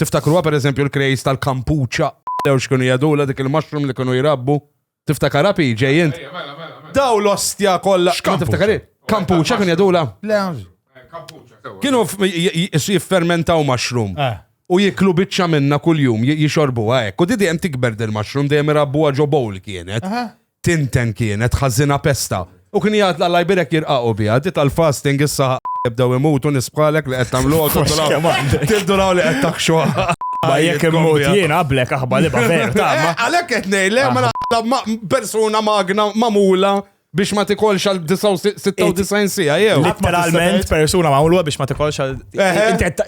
Tiftakruha pereżempju l-krejs tal-kampuċċa jew x'kienu jgħidulha dik il-mushroom li kienu jrabbu. Tiftakarha pi ġej int? Ejja, mela, mela, mela. Daw l-ostja kollha. X'kampuċċa? Ma tiftakari? Kampuċċa kienu jgħidulha? Le, għax- Eh, Kampuċċa, sewwa. Kienu f- j- j- j- jiffermentaw mushroom. Eh. U jiklu biċċa minna kuljum, j- jixorbuha hekk. U di dejjem tikber dil mushroom dejjem irabbuha ġo bowl kienet. Aha. Tinten kienet ħażina pesta. U kien jgħid l-Alla jbierek jirqaqu biha. Di tal-fasting issa jibdew imutu nies bħalek li qed tagħmluha tibdulaw. Tibdulaw li qed taħxu. Ma jekk immut jien qablek aħba li baver ta' ma. Għalhekk qed ngħidlek ma naqla persuna magna magħmula biex ma tikolx għal 96 sija jew. Literalment persuna magħmula biex ma tikolx għal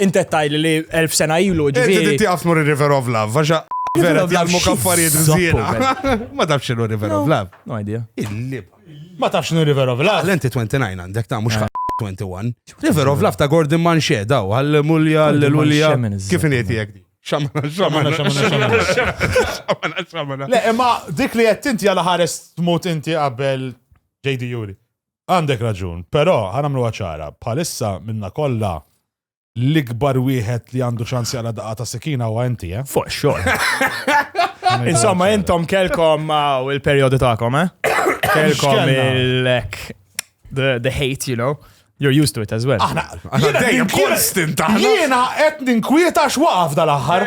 Intet tajli li elf sena ilu ġifieri. Inti tieqaf tmur ir-River of Love, għaxa vera tgħallmu kaffarijiet żiena. Ma tafx x'inhu River of Love. No idea. Il-lib. Ma tafx x'inhu River of Love. Lenti 29 għandek ta' mhux 21. River of Love ta' Gordon Manxie daw, għall-mulja, għall-mulja. Kif inhiet jek di? Xamana, xamana, xamana, xamana, xamana. Le, imma dik li qed tinti għal ħares tmut inti qabel JD Juri. Għandek raġun, però ħa nagħmluha ċara, bħalissa minnha kollha l-ikbar wieħed li għandu ċans jaqla' daqqa ta' sikina huwa inti, eh? Fuq xogħol. Insomma, intom kelkom u l-perjodu tagħkom, eh? Kelkom il-lek the, the hate, you know. You're used to it as well. Aħna Jiena dejjem konstant aħna. Jiena qed ninkwieta x'waqaf dal-aħħar.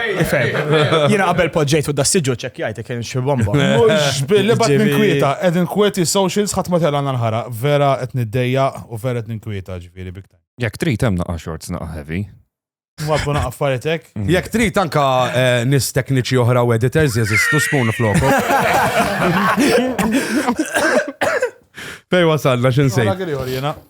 Jiena qabel poġġejt u dassiġu ċekkjajt kien xi bomba. Mhux billi bad ninkwieta, qed inkwieti socials ħadd ma telgħana l-ħara. Vera qed niddejja u vera qed ninkwieta ġifieri big time. Jekk trid hemm naqa' shorts naqa' heavy. Mwabbu naqa' affaritek. Mm. Jekk trid anka eh, nis tekniċi oħra u editors jeżistu spoon floku. Fej wasalna x'insejt.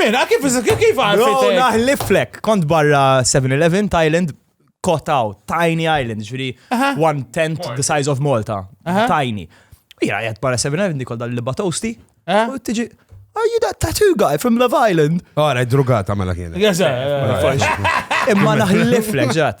Mela, kif kif għarfet? Bro, naħliflek, kont barra 7-Eleven, Thailand, kotaw, tiny island, ġviri, one tent the size of Malta, tiny. Jira, jgħat barra 7-Eleven, dikol dal-libba toasty, u tiġi, Are you that tattoo guy from Love Island? Għara, drugata mela kienet. Imma naħliflek ġat.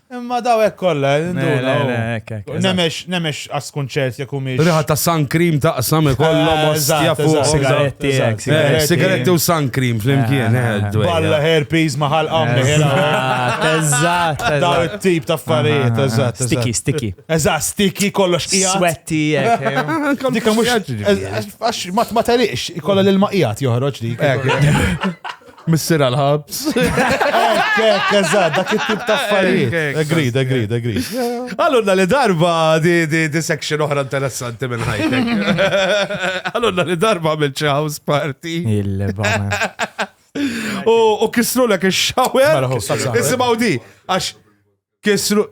Imma daw hekk kollha, nemex nemex askun ċert jekk humiex. Riħa ta' sun cream taqsam ikollhom ostja fuq sigaretti. Sigaretti u sun cream flimkien. Balla herpes ma ħalqhom Eżatt. Daw it-tip ta' affarijiet, eżatt. Sticky, sticky. Eżatt, sticky kollox qiegħed. Swetti hekk. Dikka mhux għax ma teliqx, ikollha l-ilma qiegħed joħroġ dik. Missir għal-ħabs. Ekk, ekk, eżad, dak it-tip ta' affarijiet. Agreed, agreed, agreed. Għallunna li darba di, di, di section oħra interessanti minn ħajtek. Għallunna li darba minn house party. Il-bama. U kisru l-ek il-xawer. Mela, Isimaw di, għax Kisru.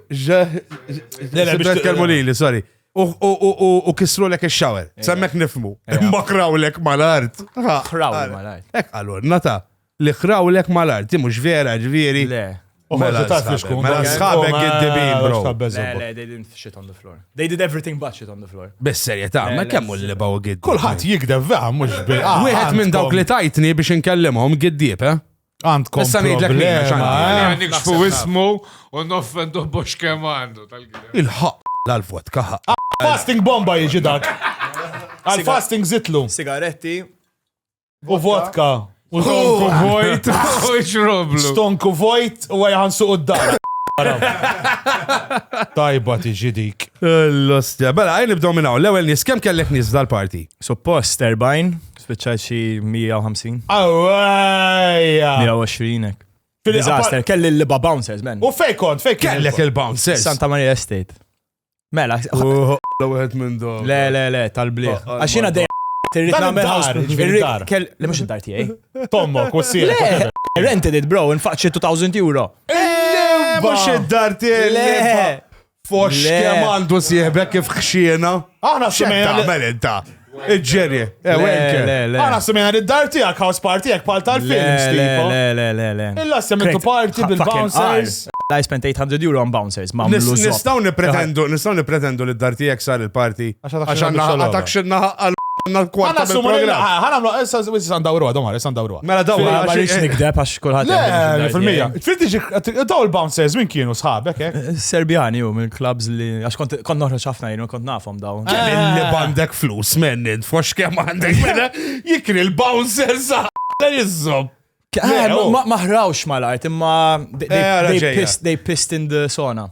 Kelmu li li, sorry. U kisru lek il-shower. Eh. Semmek nifmu. Eh. Imma kraw lek mal-art. Kraw lek mal-art. Ek għalur, nata. Li kraw lek mal-art. Ti mux vera ġviri. Le. Mela sħabek id-dibin, bro. Le, le, they didn't shit on the floor. They did everything but shit on the floor. Bis serjetà, ma kemmu li baw gid. Kulħadd jikdeb vera mhux bil. Wieħed minn dawk li tajtni biex inkellimhom giddieb, eh? Għandkom Issa ngħidlek min, għax problema, għandi- eh? Għandik xfu Naħseb ismu u noffendu box kemm għandu tal-gidem. Il-ħaq l-alvot kaħa. Fasting bomba jiġi dak. Għal fasting zitlu. Sigaretti. U vodka. U Tonku vojt u xroblu. Stonku vojt u għajħan suq d-dar. Tajba tiġi dik. L-ostja. Bela, għajn nibdow minnaw. L-ewel nis, kem kellek nis dal-parti? Suppost 40. Spiċċajt xi 150. Awajja! 120 hekk. Disaster, kelli l-liba bouncers, men. U fej kont, fej kellek il-bouncers. Santa Maria Estate. Mela, L-għed minn dom. le, le, le, tal-bliħ. Taqqa Għax jiena dejjem irrid Dan nagħmel id-dar, house- ġifieri irrid- id-dar. kell- Le mhux id-dar tiegħi. Tommok, u s-sir. Le, I rented it, bro, infaqt xi 2000 euro. Mux id-dar tiegħi. Le. Fox Le. kemm għandu sieħbek kif xxiena. Aħna semmejna li- Tagħmel inta. Iġġerje. Eh, Le, wenke. le, le. Għana semena li d-dar tijak, house party jek pal tal-films Le, le, tipo. le, le, le, le. Illa semmetu Krejt, party ha- bil-bouncers. fucking qar. I spent 800 euro on bouncers, ma' Nis- mlu Nistaw nipretendu, nistaw nipretendu li d-dar tijek sar il-parti. Għax għadak Għax xinna għanna biex għadak xinna għal Għana sumu l-program. ħana mlu, issa wissan dawru għadhom għar, issa dawru Mela daw Ma ma rridx nikdeb għax kulħadd jgħid li Le, mhux fil-mija. id-dajt. Trid tiġi daw il-bouncers minn kienu sħabek, eh? jgħid. Serbjani u minn clubs li għax kont kont noħroġ ħafna jien u kont nafhom daw. Kemm illi bandek flus mennin, fux kemm għandek mela jikri l-bouncer sa la jizzom. Eh, Le, ma- oh. ma- Ma ħrawx mal-art imma they- they- Eh, għara they ġejja. pissed- they pissed in the sauna.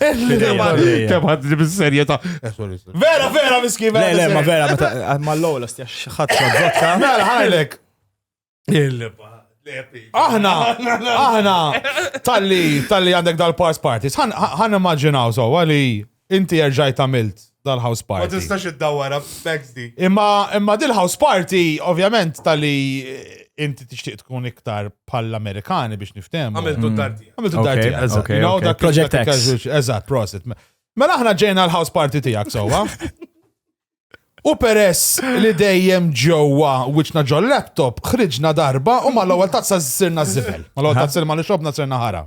Kem għadni bis-serjeta. Eh, vera, vera, miskin, vera. Le, ma vera, ma l-lowla, stjax ħattu għadzotta. Mela, ħajlek. Aħna, aħna, tal-li, tal-li għandek dal-pars parties, ħan immaġinaw so, għali Inti erġajt għamilt dal-house party. Ma tistax id-dawara b'fex di. Imma imma dil-house party, ovvjament, tal-li inti tixtieq tkun iktar bħall-Amerikani biex niftem. Għamiltu d-darti. Mm. Għamiltu d-darti, eżatt. You know, dak Project X. Eżatt, prosit. Mela aħna ġejna l-house party tijak, sowa. U peress li dejjem ġewwa wiċċna ġol laptop, ħriġna darba u ma l-ewwel tazza sirna żibel. Ma l-ewwel tazza ma li xobna sirna ħara.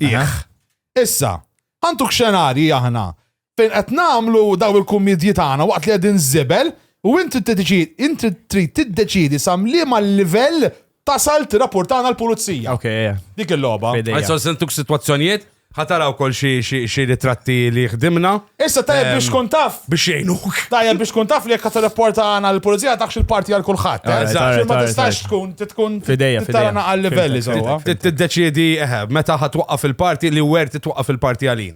Issa, għanduk xenarji aħna fejn qed nagħmlu daw il-kummedji tagħna waqt li qegħdin żibel u inti inti trid tiddeċidi sam liema livell Tasal tirrapportana l-pulizija. Ok, eh. Dik il-logħba. F'idejja. Għajsa sentuk situazzjonijiet, ħataraw kol xi xi xi ritratti li ħdimna. Issa tajjeb biex tkun taf. Biex jgħinuk. Tajjeb biex tkun taf li jekk tirrapporta għana l-pulizija taħx il-parti għal kulħadd. eh? Alright, Għax alright, Ma alright, tistax alright. tkun tkun F'idejja, tara f'idejja. naqal livelli Fimtek, sewwa. fimtek. Tiddeċiedi eħe, meta ħatwaqqaf il-parti li wert titwaqqaf il-parti għalin.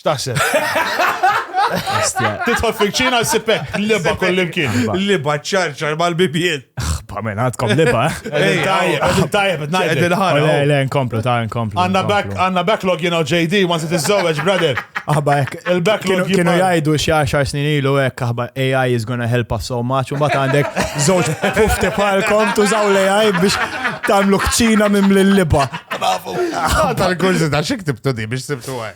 X'taħseb? Titħol fil-ċina s-sipek, liba kollimkien. Liba ċarċar mal-bibien. Xba minn għadkom liba. Tajjeb, tajjeb, il-ħara. Le, le, nkomplu, ta' nkomplu. Għanna backlog, you know, JD, once it is so, brother. Aħba, il-backlog. Kienu jajdu xie 10 snin ilu, ek, aħba, AI is gonna help us so much, un bat għandek zoċ fufti palkom, tużaw l-AI biex tamlu kċina minn l-liba. Tal-kurzi ta' xik tibtu di biex tibtu għaj.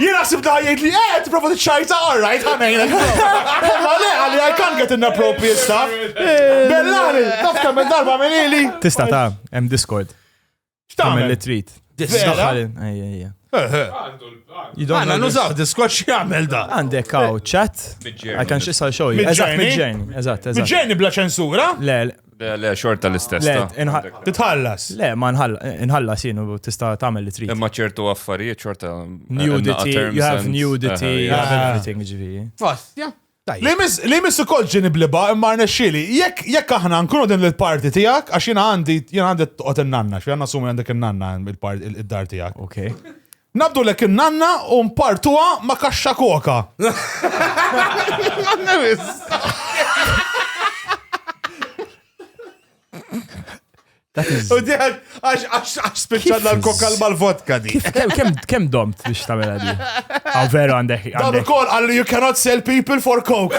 Jena xsib da jgħid li eh, t-prova t-ċajta, alright, ħanajna. Ma le, għalli I can't get inappropriate stuff. Bellari, taf kemm darba minn ili. Tista ta, hemm Discord. X'tagħmel li trid. Discord. Għanna nużaw Discord x'jagħmel da. Għandek għaw chat. I can xisal xogħol. Eżatt, mid-ġejn. Eżatt, eżatt. Mid-ġejn bla ċensura? Le, Le, le, xorta l-istess. Le, ta. inħa- Għandek- Titħallas. Le, ma nħall- nħallas jien u tista' tagħmel li trid. Imma ċertu affarijiet xorta. Nudity, you have nudity, you have Ah. everything ġifieri. Fost, ja. Tajjeb. Li mis- Li missu kol ġini bliba imma rnexxili. Jekk jekk aħna nkunu din l-parti tiegħek għax jiena għandi jiena għandi toqgħod in-nanna, xi għandna sumi għandek in-nanna il-parti id-dar tiegħek. Okay. Nabdulek in-nanna u npartuha ma' kaxxa koka. U diħan, għax spiċċanna l-koka l-mal-vodka di. Kem domt biex tamela di? Għaw veru għandek. Għaw kol għalli you cannot sell people for coke.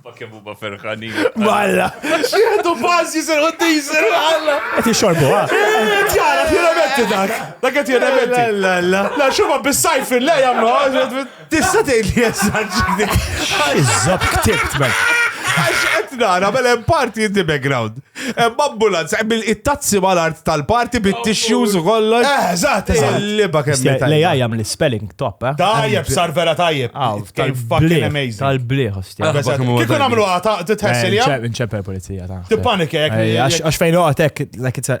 Ma kemm huma ferħanin. Malla! Xieħdu fażi ser u tiżer għalla! Qed jixorbu, ha? Ġara, fjeramenti dak! Dak qed fjeramenti! La la la! Xuma bis-sajf il-le jagħmlu Tista' tgħid li jessaġġi dik. Iżob ktibt, man. Għax qed nara mela hemm parti in the background. Hemm ambulanza, hemm it-tazzi mal-art tal-party bit-tissues u kollox. Eh, eżatt, eżatt. Il-liba kemm li tajjeb. Lejja jagħmel spelling top, eh? Tajjeb, sar vera tajjeb. Fucking amazing. Tal-bliħ, ostja. Kieku nagħmlu għata, titħessi li Nċepper pulizija ta' Tippanik jek. Għax fejn għatek, like it's a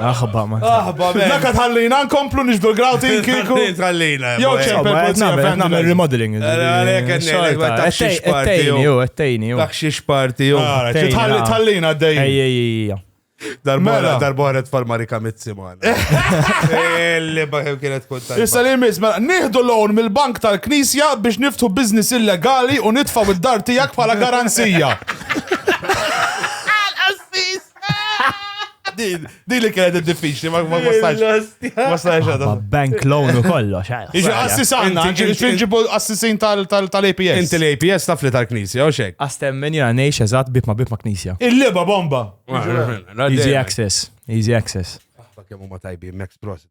Aħba ma. Aħba ma. Dak tħallina nkomplu nixbdu l-grawti kiku. Tħallina. Jew ċempel pulizija fejn nagħmel remodeling. Ettejni jew ettejni jew. Dak xi xparti jew. Tħalli tħallina dej. Ejja Darbora, darbora tfal Marika Mizzi man. Illi baħem kienet kontant. Issa li mis, mela, nieħdu loan mill-bank tal-knisja biex niftu biznis illegali u nitfaw id-dar tijak bħala garanzija. Għal-assis! Din, din li kienet diffiċli, ma ma wasalx. Ma wasalx għadha. Ma bank loan u kollox. eh. Iġi assisana, Inti- il-principal assissin tal- tal- tal-APS. Inti l-APS taf li tal-knisja, u xek. Astemmen jena nejx eżat bib ma bib ma knisja. Il-liba bomba. Easy access. Easy access. Kemmu ma tajbi, Max Prosit.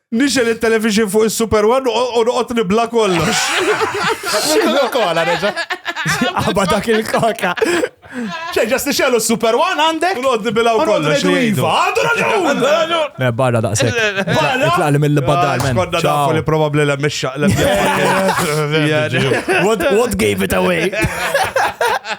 Nixel il-television fuq il-Super One u noqgħod nibla kollox. Kola reġa. Għaba dak il-koka. ċe, ġas nixelu Super One għandek? U noqgħod nibilgħu kollox. Iva, għandu raġun! Le, barra daqsek. Barra? Itlaqli mill-badar, men. Konna nafu li probabli l-mixxaq l What gave it away?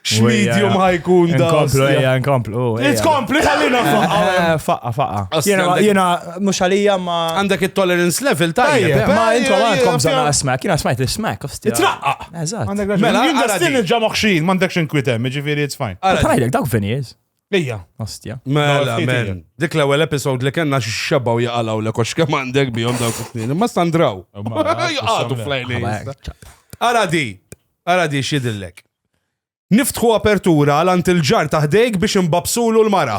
X'medium ħajkun da. Nkomplu, ejja, nkomplu. Tkompli ħallina faqqa. Eh, faqqa, faqqa. Jena, mux għalija ma. Għandek il-tolerance level ta' jena. Ma intom għandkom zana smack, jena smajt il-smack, osti. Traqqa. Eżat. Mela, għandek l-ġamokxin, mandek xin kwitem, ġifiri, it's fine. Għandek dawk vinijiz. Ija. Ostja. Mela, mela. Dik l-ewwel episode li kellna x'xebgħu jaqalgħu l kox kemm għandek bihom dawk it-tnejn. Imma standraw. Jaqgħu flejli. Ara di, ara di x'idillek. Niftħu apertura għal ant il-ġar taħdejk biex imbabsulu l-mara.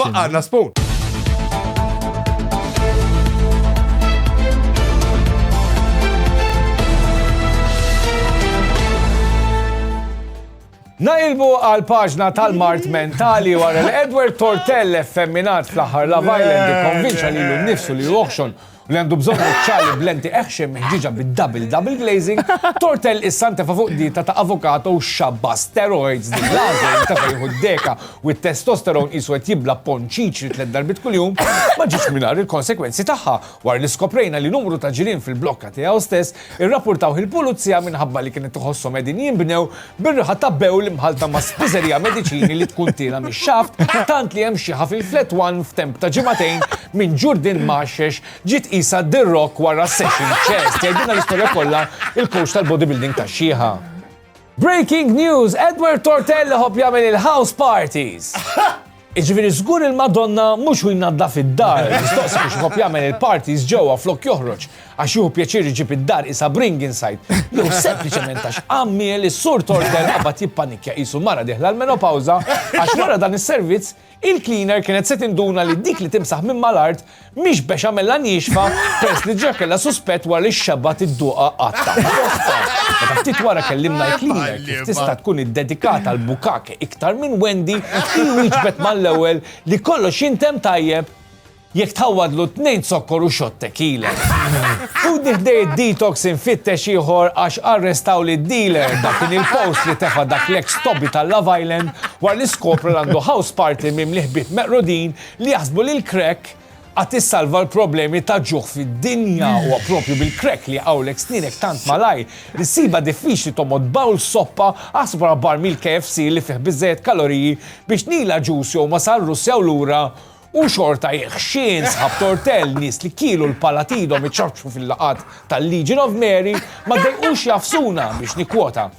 Faqqar la spoon! Nailbu għal paġna tal-mart mentali wara l-Edward Tortell effemminat fl-aħħar Love Island ikkonvinċa li l-nifsu li joħxon Li għandu bżonn guċċali b'lenti eħxej meħġieġa bid-double double glazing, tortell issa ntefa' fuq dieta ta' avokado u xabba steroids din l-għażla li ntefa' jieħu d-deka u t-testosterone qisu qed jibla' ponn ċiċri tliet darbiet kuljum, ma ġietx mingħajr il-konsegwenzi tagħha wara li skoprejna li numru ta' ġirien fil-blokka tiegħu stess Irrappurtawh il-Pulizija minħabba li kienet iħosshom qegħdin jinbnew bir-riħa ta' bewl mħallta ma' spiżerija mediċini li tkun tiela mix-xaft tant li hemm xieħa fil-Flat One f'temp ta' ġimagħtejn minn Ġurdin Mgħaxxex ġiet qisha The Rock wara session chest. Jgħidilna l-istorja kollha il-coach tal-bodybuilding tax-xieħa. Breaking news, Edward Tortell iħobb jagħmel il-house parties! Jiġifieri żgur il-Madonna mhux hu jnaddaf id-dar, mistoqsi biex iħobb jagħmel il-parties ġewwa flok joħroġ għax jieħu pjaċir iġib id-dar qisha bring inside jew sempliċement għax għammiel is-Sur Tortell qabad jippanikkja qisu mara dieħla l-menopawża għax wara dan is-servizz Il-cleaner kienet se tinduna li dik li timsaħ minn mal-art mhix bexamella nixfa peress li diġà kellha suspett wara li xxabat idduqha qatta' f'postha. Meta ftit wara kellimna l-cleaner kif tista' tkun iddedikata għal bukake iktar minn Wendy, hi wieġbet mal-ewwel li kollox jintemm tajjeb. Jekk tħawwadlu tnejn zokkor u shot tequila. Ħudni ħdej id-detox infittex ieħor għax arrestawli d-dealer, dak kien il-post li tefa' dak l-eks tobby tal-Love Island wara li skopra li għandu house party mimli ħbieb meqrudin li jaħsbu li l-crack għad issalva l-problemi ta' ġuħ fid-dinja. Huwa proprju bil-crack li jqawwlek snienek tant malajr li ssibha diffiċli tommod bowl soppa, aħsbu għal barmil KFC li fih biżżejjed kaloriji biex nila ġuż jew masal Russja u lura, U xorta jekk xi nsħab tortell nies li kielu l-pala t'idhom iċaċċu fil-laqgħat tal-Legion of Mary ma ddejqux jagħfsuna biex nikkwota.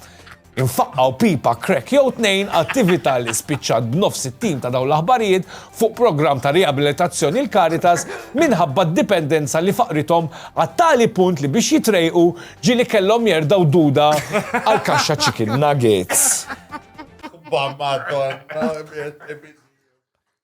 Infaqqgħu pipa crack jew tnejn, attività li spiċċat b'nofs it-tim ta' dawn l-aħbarijiet fuq programm ta' riabilitazzjoni l-Caritas minħabba d-dipendenza li faqrithom għat-tali punt li biex jitrejqu ġieli kellhom jerdgħu duda għall-kaxxa chicken nuggets. Bam, Madonna,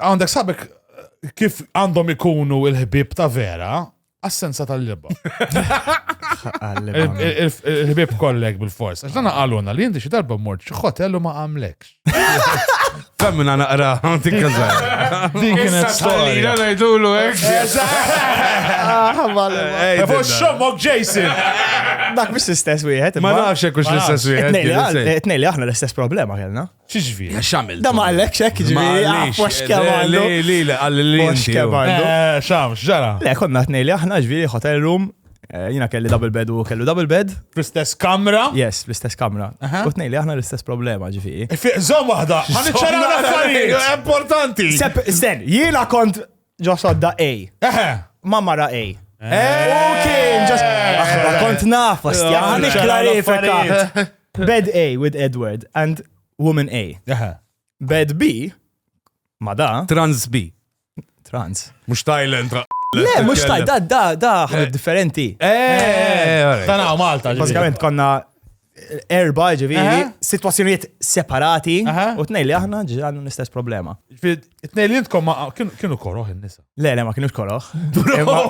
Għandek sabek kif għandhom ikunu il-ħbib ta' vera, assenza tal-libba. Il-ħbib kollek bil-fors. Għax dana għaluna li jinti xi darba mort xi hotel u ma għamlekx. Femmina naqra, għanti kazar. Din kienet storja. Najdulu, ek. Fuq xommok Jason. Dak mis istess wieħed. Ma nafx hekk l-istess wieħed. Tnejli aħna l-istess problema kellna. Xieġviri? Għax għamil. Da ma għallekx hekk ġviri, għax kemm għallu. Li, li, li, għalli li. Għax kemm għallu. Eh, Xam, xġara. Le, konna t-nej li aħna ġviri hotel room, eh, jina kelli double bed u kellu double bed. Fl-istess kamra? Yes, fl-istess kamra. U t-nej li aħna l-istess problema ġviri. Zom wahda, għan iċċaraw l-affarijiet. Importanti. Sten, jina kont Ġo sodda A. Eħe. Ma mara A. Kien ġas. Aħna kont naf, ostja. Għan iklarifika. Bed A with Edward and woman A. Eħe. Bed B, ma da, Trans B. trans. Mux Thailand. ra- Le, mux taj, da, da, da, ħabib differenti. Eh, Dan għaw Malta. ġifieri. Basikament konna erba ġiviri, situazzjoniet separati, u t-nej li aħna ġirannu l-istess problema. T-nej li jintkom kienu koroħ il-nisa. Le, le, ma kienux koroħ.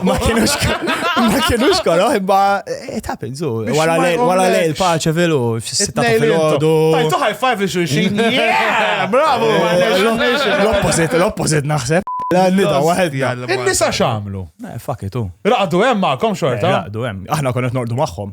Ma kienux ma kienux koroħ, imma eh, it happens, u wara le il-paċe vilu, f-sitta fil-ħodu. Tajtu high five li xulxin. Bravo! L-opposit, l-opposit naħseb. La nida, wahed jgħallem. Il-nisa xamlu. Eh, fuck it, u. Raqdu hemm ma'kom xorta. Eh, raqdu hemm. Aħna konet nordu magħhom.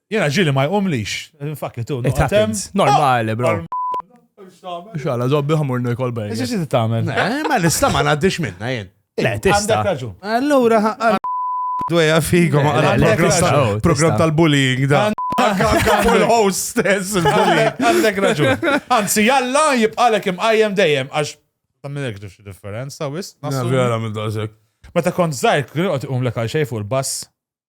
Jena ġili ma jqumlix. Infakki tu. It happens. Normali, bro. Xala, zobbi ħamur nujkol bej. Eżi xi tagħmel? Eh, ma nista ma ngħaddix minna jien. Le, tista. Għandek raġun. Allura dweja fikom program tal-bullying da. Il-host stess il-bullying. Għandek raġun. Anzi, jalla jibqalek imqajjem dejjem għax ta' minn ekdu xi differenza wis. Vera minn dażek. Meta kont żgħir, kien qed iqum lek għal xejn fuq il-bass.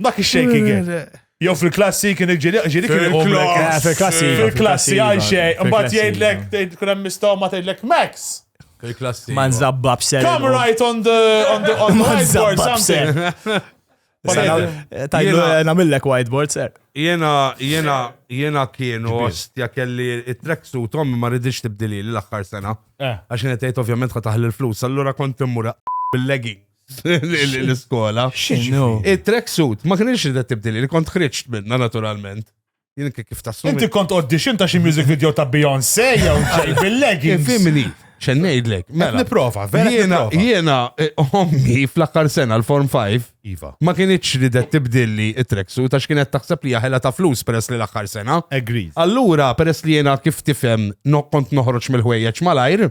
Dak ix-shaking it. Jew fil-klassi kien il-ġiri ġiri kien il Fil-klass. Fil-klassi. Fil-klassi għal xej, mbagħad jgħidlek tgħid kun hemm mistoma tgħidlek Max. Fil-klassi. Ma nżabbab ser. Come right on the on the on the whiteboard something. Tajlu eh, namillek whiteboard ser. Jena, jena, jena kienu ostja kelli it-trek su tom ma ridix tibdili l-axħar sena. Eh. Għaxin jtajt ovvjament ħataħli l-flus, allura kont immura bil-leggings. l-iskola. Il-tracksuit, ma kienx li tibdili, li kont ħriġt minna naturalment. Jien kif ta' Inti kont audition ta' xi music video ta' Beyoncé jew ġej bil-leggings. Fimni, xen ngħidlek. Mela, mela. niprofa, vera. Jiena, jiena, eh, ommi fl-aħħar sena l-Form 5. Iva. Ma kienitx li det tibdilli it-treksu ta' x'kienet taħseb li jaħela ta' flus peress li l-aħħar sena. Agreed. Allura, peress li jiena kif tifhem kont noħroġ mill-ħwejjeġ malajr.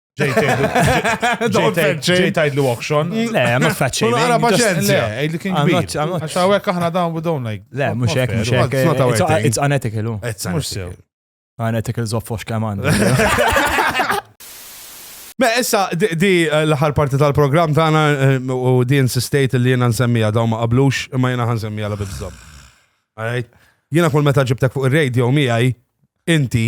Ġej tajd li auction. Le, ma faċċi. Ma għara paċenzja. Għajli kien kbir. Għaxawek aħna dawn we don't like. Le, mux ek, mux ek. It's unethical. It's unethical. Unethical zoffox kaman. Ma issa di eh, l-aħħar parti tal-programm tagħna eh, u di insistejt li jiena nsemmija daw ma qablux imma jiena ħansemmija la bibżob. Jiena kull meta ġibtek fuq ir-radio miegħi inti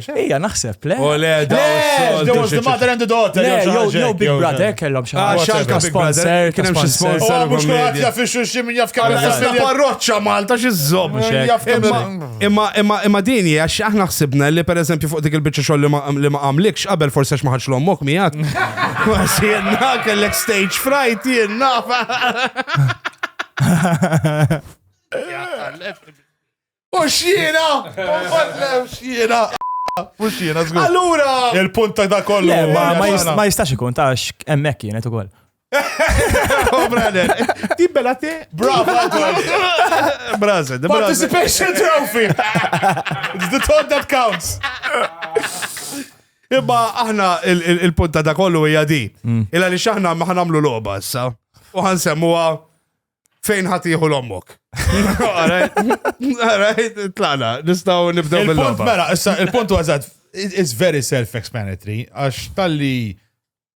Ija, naħseb, le. U le, da, there was the mother and the daughter. Le, jew jew Big Brother kellhom xi ħaġa. Xalka Big Brother, kien hemm xi sponsor. Oh, mhux kulħadd jaf ix-xulxin minn jaf kemm jaf parroċċa Malta xi żomm Imma imma imma din hija xi aħna ħsibna li pereżempju fuq dik il-biċċa xogħol li ma għamlikx qabel forsi x'ma ħadx l-ommok miegħek. Kważi jenna kellek stage fright jenna. U xjena! Konfatlem xjena! U xjena, zgur. Allura! Il-punt ta' da kollu. Ma jistax ikun, ta' emmek kienet u koll. Ti bella te? Brava, Braza, the Participation trophy! It's the thought that counts! Imma aħna il-punta ta' kollu hija di. Mm. Illa li xaħna ma ħanamlu loba issa. U ħansemmuha fejn ħatiħu l-ommok. Alright, tlaqna, nistaw nibdew bil Il-punt mela, issa il-punt għazad, it's very self-explanatory, għax tal-li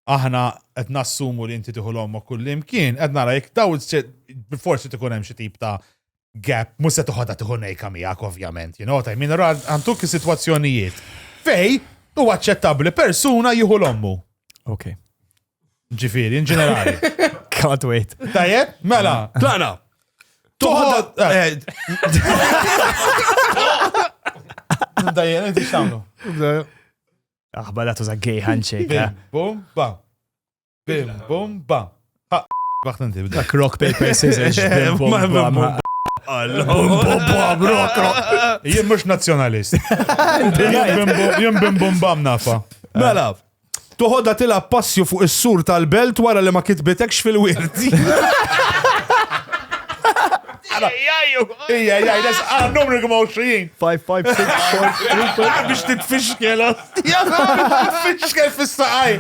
aħna qed nassumu li inti tiħu l-ommok kull imkien, qed nara jekk daw forsi tkun hemm xi tip ta' gap, mhux se toħodha tiħu nejka miegħek ovvjament, you know, ta' min għanduk is-sitwazzjonijiet fej u aċċettabbli persuna jieħu l-ommu. Okay. Ġifiri, in ġenerali. Can't wait. Tajjeb, mela. Tlaqna. Toħod. Dajjen, inti xamlu. Aħba la tuża gay handshake. Bim, eh? bum, ba. Bim, bum, ba. Waħt inti bda. Dak rock paper scissors. Bim, bum, ba. Bum, bum, ba, rock, rock. Jien mux nazjonalist. Jien bim, bum, bam nafa. Mela, Toħodha tilgħab passju fuq is-sur tal-belt wara li ma kitbitekx fil-wirt. Ija, ija, des għal numru kma 20. 5, 5, 6, 4, Biex titfixkel, titfixkel fis-saqaj.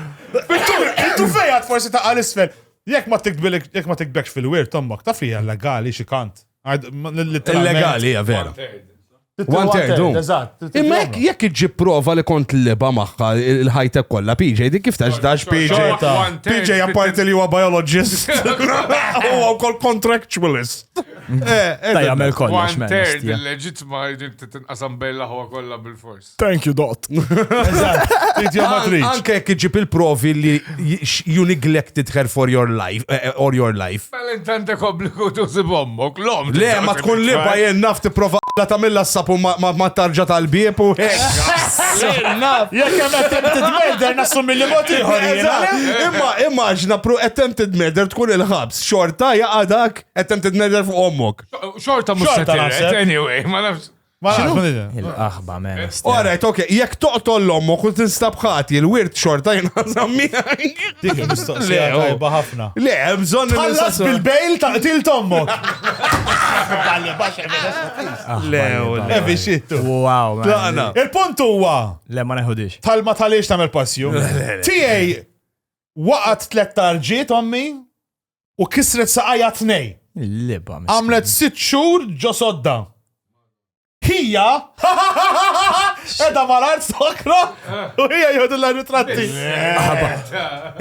Intu fejat forsi ta' għal isfel. Jek ma tikbilek, jek ma tikbekx fil-wir, tommak, ta' fija legali xi kant. Illegali, ja vera. One third, u. Imma jekk jekk iġġib prova li kont liba magħha il-ħajtek kollha PJ, dik kif tax dax PJ. Xorta. PJ apparti li huwa biologist. Huwa wkoll contractualist. Ta' jagħmel kollox. One third il-leġitma jġib titinqasam bejn l-aħwa kollha bil-fors. Thank you, Dot. Eżatt, trid jew ma tridx. Anke jekk iġġib il-provi li You neglected her for your life, eh, eh, or your life. Mela int għandek obbligu tusib ommok, l-om. Le, ma tkun liba jien naf tipprova la tagħmilha s-sapu ma tarġa tal-bieb u Jekk hemm attempted murder nassumi li mod ieħor Imma immaġna pru attempted murder tkun il-ħabs, xorta jaqadak attempted murder fuq ommok. Xorta mhux se anyway, ma nafx. Il-qaħba men. Alright, ok, jekk toqtol l-ommu kun tinstab ħati, il-wirt xorta jinħazam miħaj. Dik il-mistoqsija tajba ħafna. Le, bżon Tħallas bil-bejl ta' til tommok. Le, evi xittu. Wow, man. Il-punt huwa. Le, ma neħudix. Talma tal-ix tamel passju. Tijaj, waqat tlet tarġiet ommi. u kisret saqajja t-tnej. Il-liba. Għamlet sitt xhur ġo sodda. Hija edha mal-art sokra u hija jgħodu l-ritratti.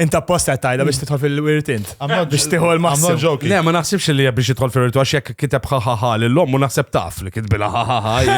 Inta posta tajda biex titħol fil-wirtint. Biex titħol ma' ġoki. Le, ma naħsibx li biex titħol fil-wirtint għax jekk kiteb ħaħaħa l-lom u naħseb taf li kitbila ħaħaħa.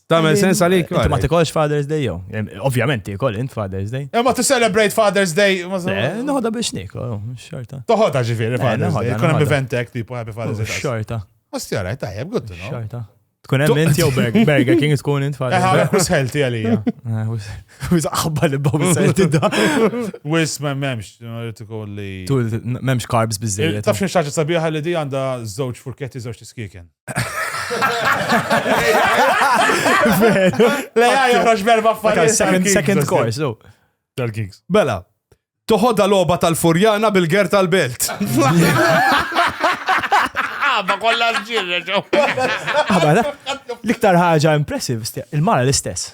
Tamel sens għalik. Inti ma tikolx Father's Day jew. Ovvjament tikol int Father's Day. Imma to celebrate Father's Day. Eh, noħodha biex nikol, oh, xorta. Toħodha ġifieri eh, Father's Day. Kun hemm eventek tipo Happy Father's oh, Day. Xorta. Ostja rajt tajjeb, good to know. Xorta. Tkun hemm int jew Burger King tkun int Father's eh, Day. Eħa, wis healthy għalija. Wis aħba li babu healthy da. Wis ma memx, tikolli. Tul memx carbs biżejjed. Tafx xi ħaġa sabiħa li di għandha żewġ furketti żewġ tiskieken. Le għaj joħroġ berba affarijiet. Second, second course, no. Tal-Kings. Bela, toħodha loba tal-Furjana bil-ger tal-belt. Għabba ah, kollha ġirre ġo. Għabba, ah, l-iktar ħaġa impressive, il-mara l-istess.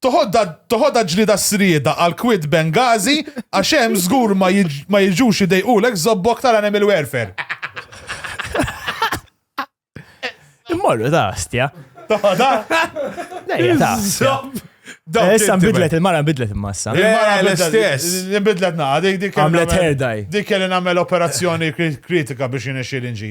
Toħodha toħodha ġlieda s-srieda għal kwiet Benghazi għax hemm żgur ma jiġ- ma jiġux idejqulek żobbok tal-animal welfare. Immorru ta' astja. Toħodha? Lejja ta' astja. Dawk Eh, Issa inti nbidlet il-mara nbidlet imassa. Eh, Il-mara Eh, bidlet- l-istess. Nbidlet naqa, dik dik kelli Għamlet nagħmel- hair dye. Dik kelli nagħmel operazzjoni kri- kritika biex jinexxi l-inġi.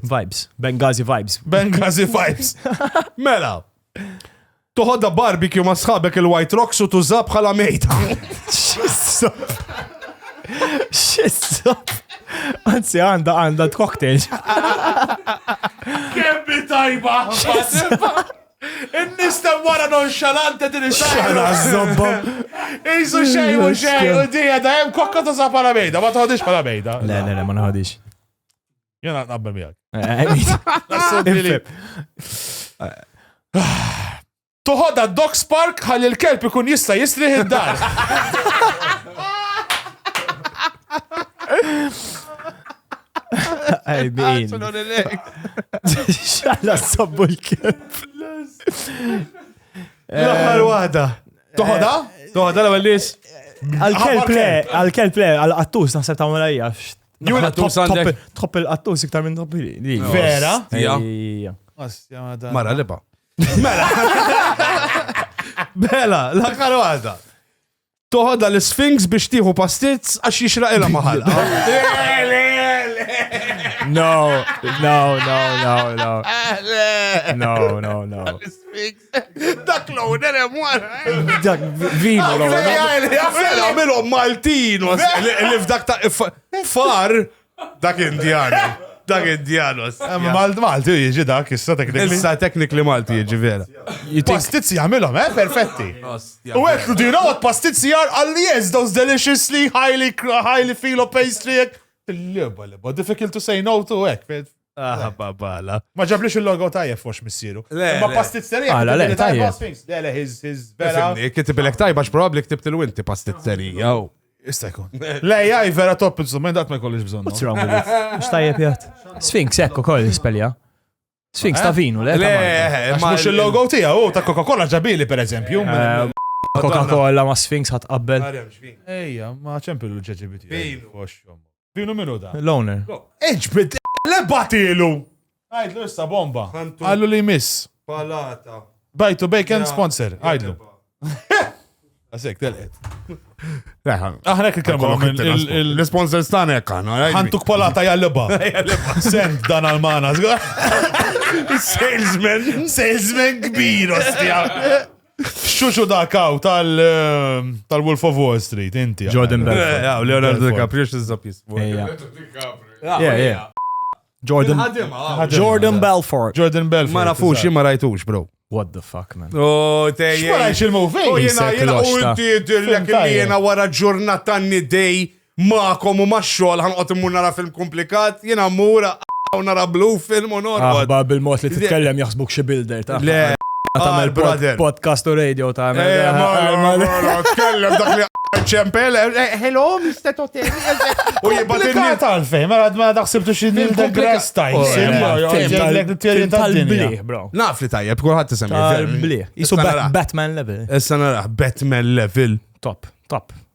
Vibes. Benghazi vibes. Benghazi vibes. Mela. Toħodha barbecue ma' sħabek il-White Rocks u tuża bħala mejta. Xissa. Anzi, għanda għanda t-cocktail. Kemmi tajba. In-nis ta' wara nonxalante din Xara zobba. Isu xej u xej u dija da jem kokka ta' sa' pala mejda, ma tħodix pala mejda. Le, le, le, ma nħodix. Jena naqbel miegħek. Toħodha Doc Spark ħalli l-kelb ikun jista' jistrih id-dar. Għajbin. Xalla sabbu l-kelb. L-aħħar eh, waħda. Toħodha? Toħodha l-ewwel Għal-kelb le, għal-kelb le, għal-qattus naħseb ta' mela hija Jura tħobb il-qattus iktar minn tħobb li. Vera? Mara liba. Mela. Bela, la karwata. Toħodha l-Sphinx biex tieħu pastizz għax jixraq ilha maħal. No, no, no, no, no. No, no, no. Dak l-owner hemm wara. Eh? Dak vivo l-owner. Għamilhom Maltin li f'dak ta' far dak Indjan. Dak Indjanos. Eh, Malti jiġi dak, issa teknikli. Issa teknikli Malti jiġi vera. Pastizzi għamilhom, eh, perfetti. U għetlu dina għot pastizzi għar għalli yes, those deliciously highly, highly filo pastry. Il-liba, liba, difficult to say no to, ek, Ah, babala. Ma ġablix il-logo tajjeb fox missieru. Le, Ma le. pastizzerija. Għala, le, kitibili tajjeb. tajjeb. Sphinx, Le, le, his, his, vera. Fimni, Kitibilek tajba x'probabbli ktibt il-winti pastizzerija. u- Issa jkun. Le, jaj, vera top instrument, dat ma jkollix bżonn. What's wrong with it? Mux tajjeb jgħat. Sphinx, ekku koll l-ispelja. Sphinx ta' vinu, le? ta' Le, Malta. eh, Għax ma- mux il-logo tija, u ta' Coca-Cola ġabili, per eżempju. Eh, Coca-Cola ma' Sphinx ħat qabbel. Ejja, ma ċempil l-ġeġibiti. Vinu. Dinu minu da? L-owner. Iġbid l-batilu! Għajdlu issa bomba. Għallu li jmiss. Palata. Bajtu bacon sponsor. Għajdlu. Għasek, telqet. Aħna kif kelmu l-sponsor stana jekk għana. Għantuk palata jalleba. Send dan għal-mana. Salesman. Salesman kbir, ostja. Xuxu dak hawn tal-Wolf of Wall Street, inti. Jordan Belfort. Eh, Leonardo DiCaprio x'iżżob jismu. Jordan Jordan Belfort. Jordan Belfort. Ma nafux, ma rajtux, bro. What the fuck, man? Oh, tejja. Xwara xil-movie? Oh, jena, jena, u inti dirlek li jena wara ġurnata nidej Magħkom u max-xogħol ħanqgħod immur nara film kumplikat, jiena mmur u nara blue film u norqod. Aħbar bil-mod li titkellem jaħsbuk xi builder ta' Le, tagħmel podcast u radio ta' Tkellem dak li ċempel, hello, Mr. Totem. U jibatinni. Tal-fej, ma għad ma daħsibtu xie nil the grass tajn. Tal-bliħ, bro. Naf li tajjeb, kullħat tisemmi. Tal-bliħ. Jisu Batman level. Issa naraħ, Batman level. Top, top.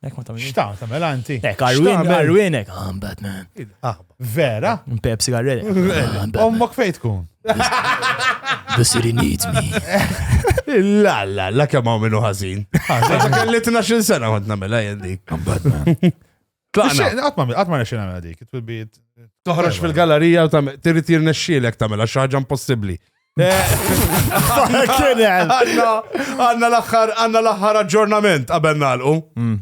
Ek ma tamil. Xta, tamil anti. Ek, arwinek, I'm Batman. Ah, vera? Pepsi garrele. Ommok fejt kun. The city needs me. La, la, la, kemm hawn minnu ħażin. Għaxa kelli 12 sena kont nagħmilha jien dik. Tlaqna. Għatma, għatma nexxi nagħmilha dik. Toħroġ fil-gallerija u tirrit jirnexxielek tagħmilha xi ħaġa impossibbli. Għanna l-axħar, għanna l-axħar aġġornament qabel nalqu. Mm.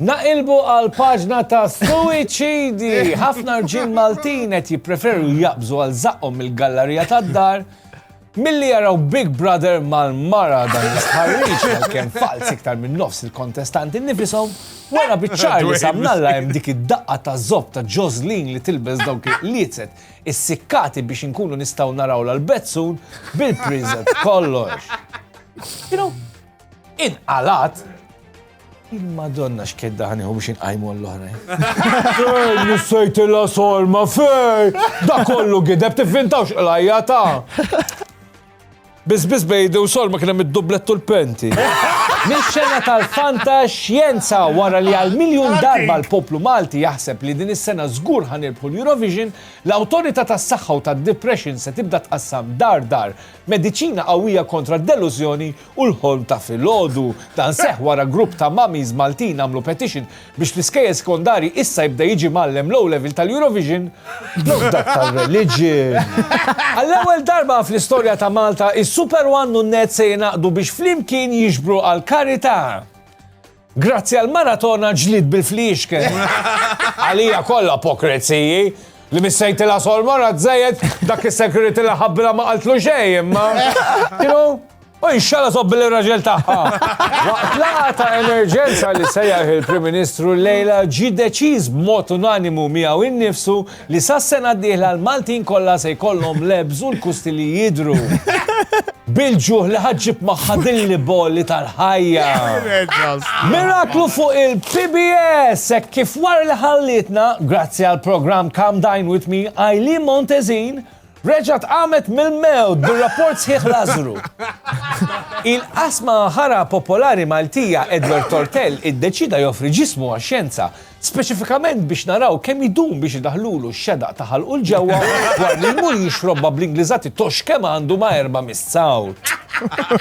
Naqilbu għal paġna ta' suicidi. Ħafna rġin Maltin qed jippreferu jaqbżu għal zaqqom mill-gallerija tad-dar Milli jaraw Big Brother mal-mara dan l-istħarriġ għalkemm falz iktar minn nofs il-kontestanti nifisom, wara biċċar li samnalla hemm dik id-daqqa ta' zob ta' Joslin li tilbes dawk il-qliezet is-sikkati biex inkunu nistgħu naraw l-bezzun bil-priżet kollox. You know, inqalat Il-Madonna x'kedda ħaniħu biex inqajmu għall-oħrajn. Fejn nissejtilha solma fej! Da kollu gideb tivvintawx qlajja ta'. Biss biss bejdi u solma kien hemm id-dublett u l-penti. Mix-xena tal-fanta xjenza wara li għal miljun darba l-poplu Malti jaħseb li din is-sena żgur ħanirbħu l-Eurovision, l-Awtorità tas-Saħħa u tad-Depression se tibda tqassam dar dar mediċina qawwija kontra d-delużjoni u l-ħolm ta' filgħodu. Dan seħħ wara grupp ta' mummies Maltin għamlu petition biex fl-iskejjel sekondarji issa jibda jiġi mgħallem l-O Level tal-Eurovision flok dak tar-reliġjon. Għall-ewwel darba fl-istorja ta' Malta, is-Super One u n-Net se jingħaqdu biex flimkien jiġbru għall-karità. Grazzi għal maratona ġlid bil-fliexken. Għalija kollha pokreziji li missejti la solmora tżejjed dak is-security li ħabbila ma qaltlu xejn imma. Kienu U inxalla sobbi l-raġel taħħa. Waqt laqa ta' emerġenza li sejjaħ il-Prim Ministru lejla ġi deċiż b'mod unanimu miegħu innifsu Li sas-sena d-dieħla l-Maltin kollha se jkollhom l-ebż u l-kusti li jidhru. Bil-ġuħ li ħa ġġib magħha din l-ibolli tal-ħajja. Miraklu fuq il-PBS hekk kif wara li ħallietna, grazzi għall-programm Come Dine With Me, Eileen Montezin reġgħet qamet mill-mewt bir-rapport sħiħ Lażru. Il-qasma ħara popolari Maltija Edward Tortell iddeċieda joffri ġismu għax-xjenza Speċifikament biex naraw kemm idum biex idaħħlulu x-xedaq ta' ħalqu 'l ġewwa dwar li jmur jixrobha bl-Ingliżati tox kemm għandu ma' erba' missawt.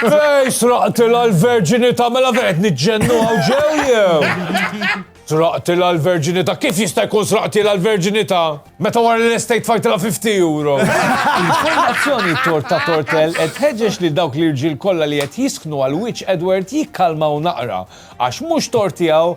Fejn sraqtilha l-verġinità mela fejn qed niġġennu hawn ġew jew? Sraqtilha l-verġinità, kif jista' jkun sraqtilha l-verġinità? Meta wara li l-estate fajtilha 50 euro. Il-Fondazzjoni Torta Tortell qed tħeġġeġ lil dawk l-irġiel kollha li qed jisknu għal wiċċ Edward jikkalmaw naqra, għax mhux tort tiegħu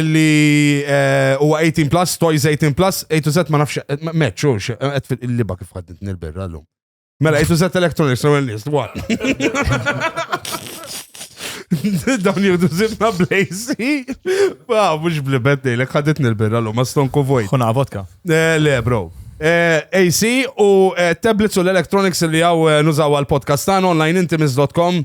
Illi huwa 18 plus, toys 18 plus, 8 to Z ma nafx, meċ, u qed fil-liba kif għaddit nil-birra l-lum. Mela, 8 to Z electronics, l-ewwel nies, what? Dawn jibdu zibna blejsi. Ba, mux blibet nejlek, għaddit nil-birra l-lum, ma stone kuvoj. Kuna vodka. Le, bro. AC u tablets u l-electronics li għaw nużaw għal-podcast tan online intimis.com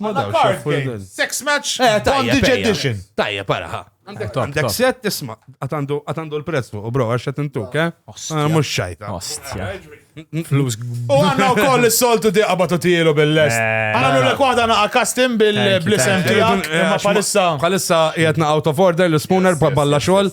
Ma da card game. Sex match. Eh, bondage edition. Tajja, para ha. Għandek set tisma, għatandu l-prezz fuq, bro, għax għat intuk, eh? Ah, Mux xajta. Ostja. Flus. U għanna u koll s-soltu di għabatu tijilu bil-lest. Eh, għanna l kwada naqa kastim bil-blisem tijak. Ma palissa. Palissa jgħatna out of order, l-spooner, balla xol.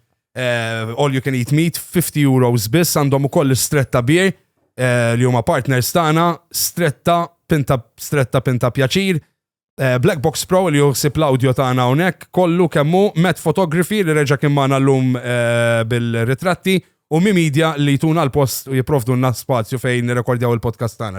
all you can eat meat, 50 euros biss, għandhom ukoll stretta beer li huma partners tagħna, stretta pinta stretta pinta pjaċir, Eh, Black Box Pro li juħsib l-audio tagħna hawnhekk kollu kemmu Met Photography li reġa' kien magħna llum eh, bil-ritratti u mi media li jtuna l-post u jipprovdulna spazju fejn nirrekordjaw il-podcast tagħna.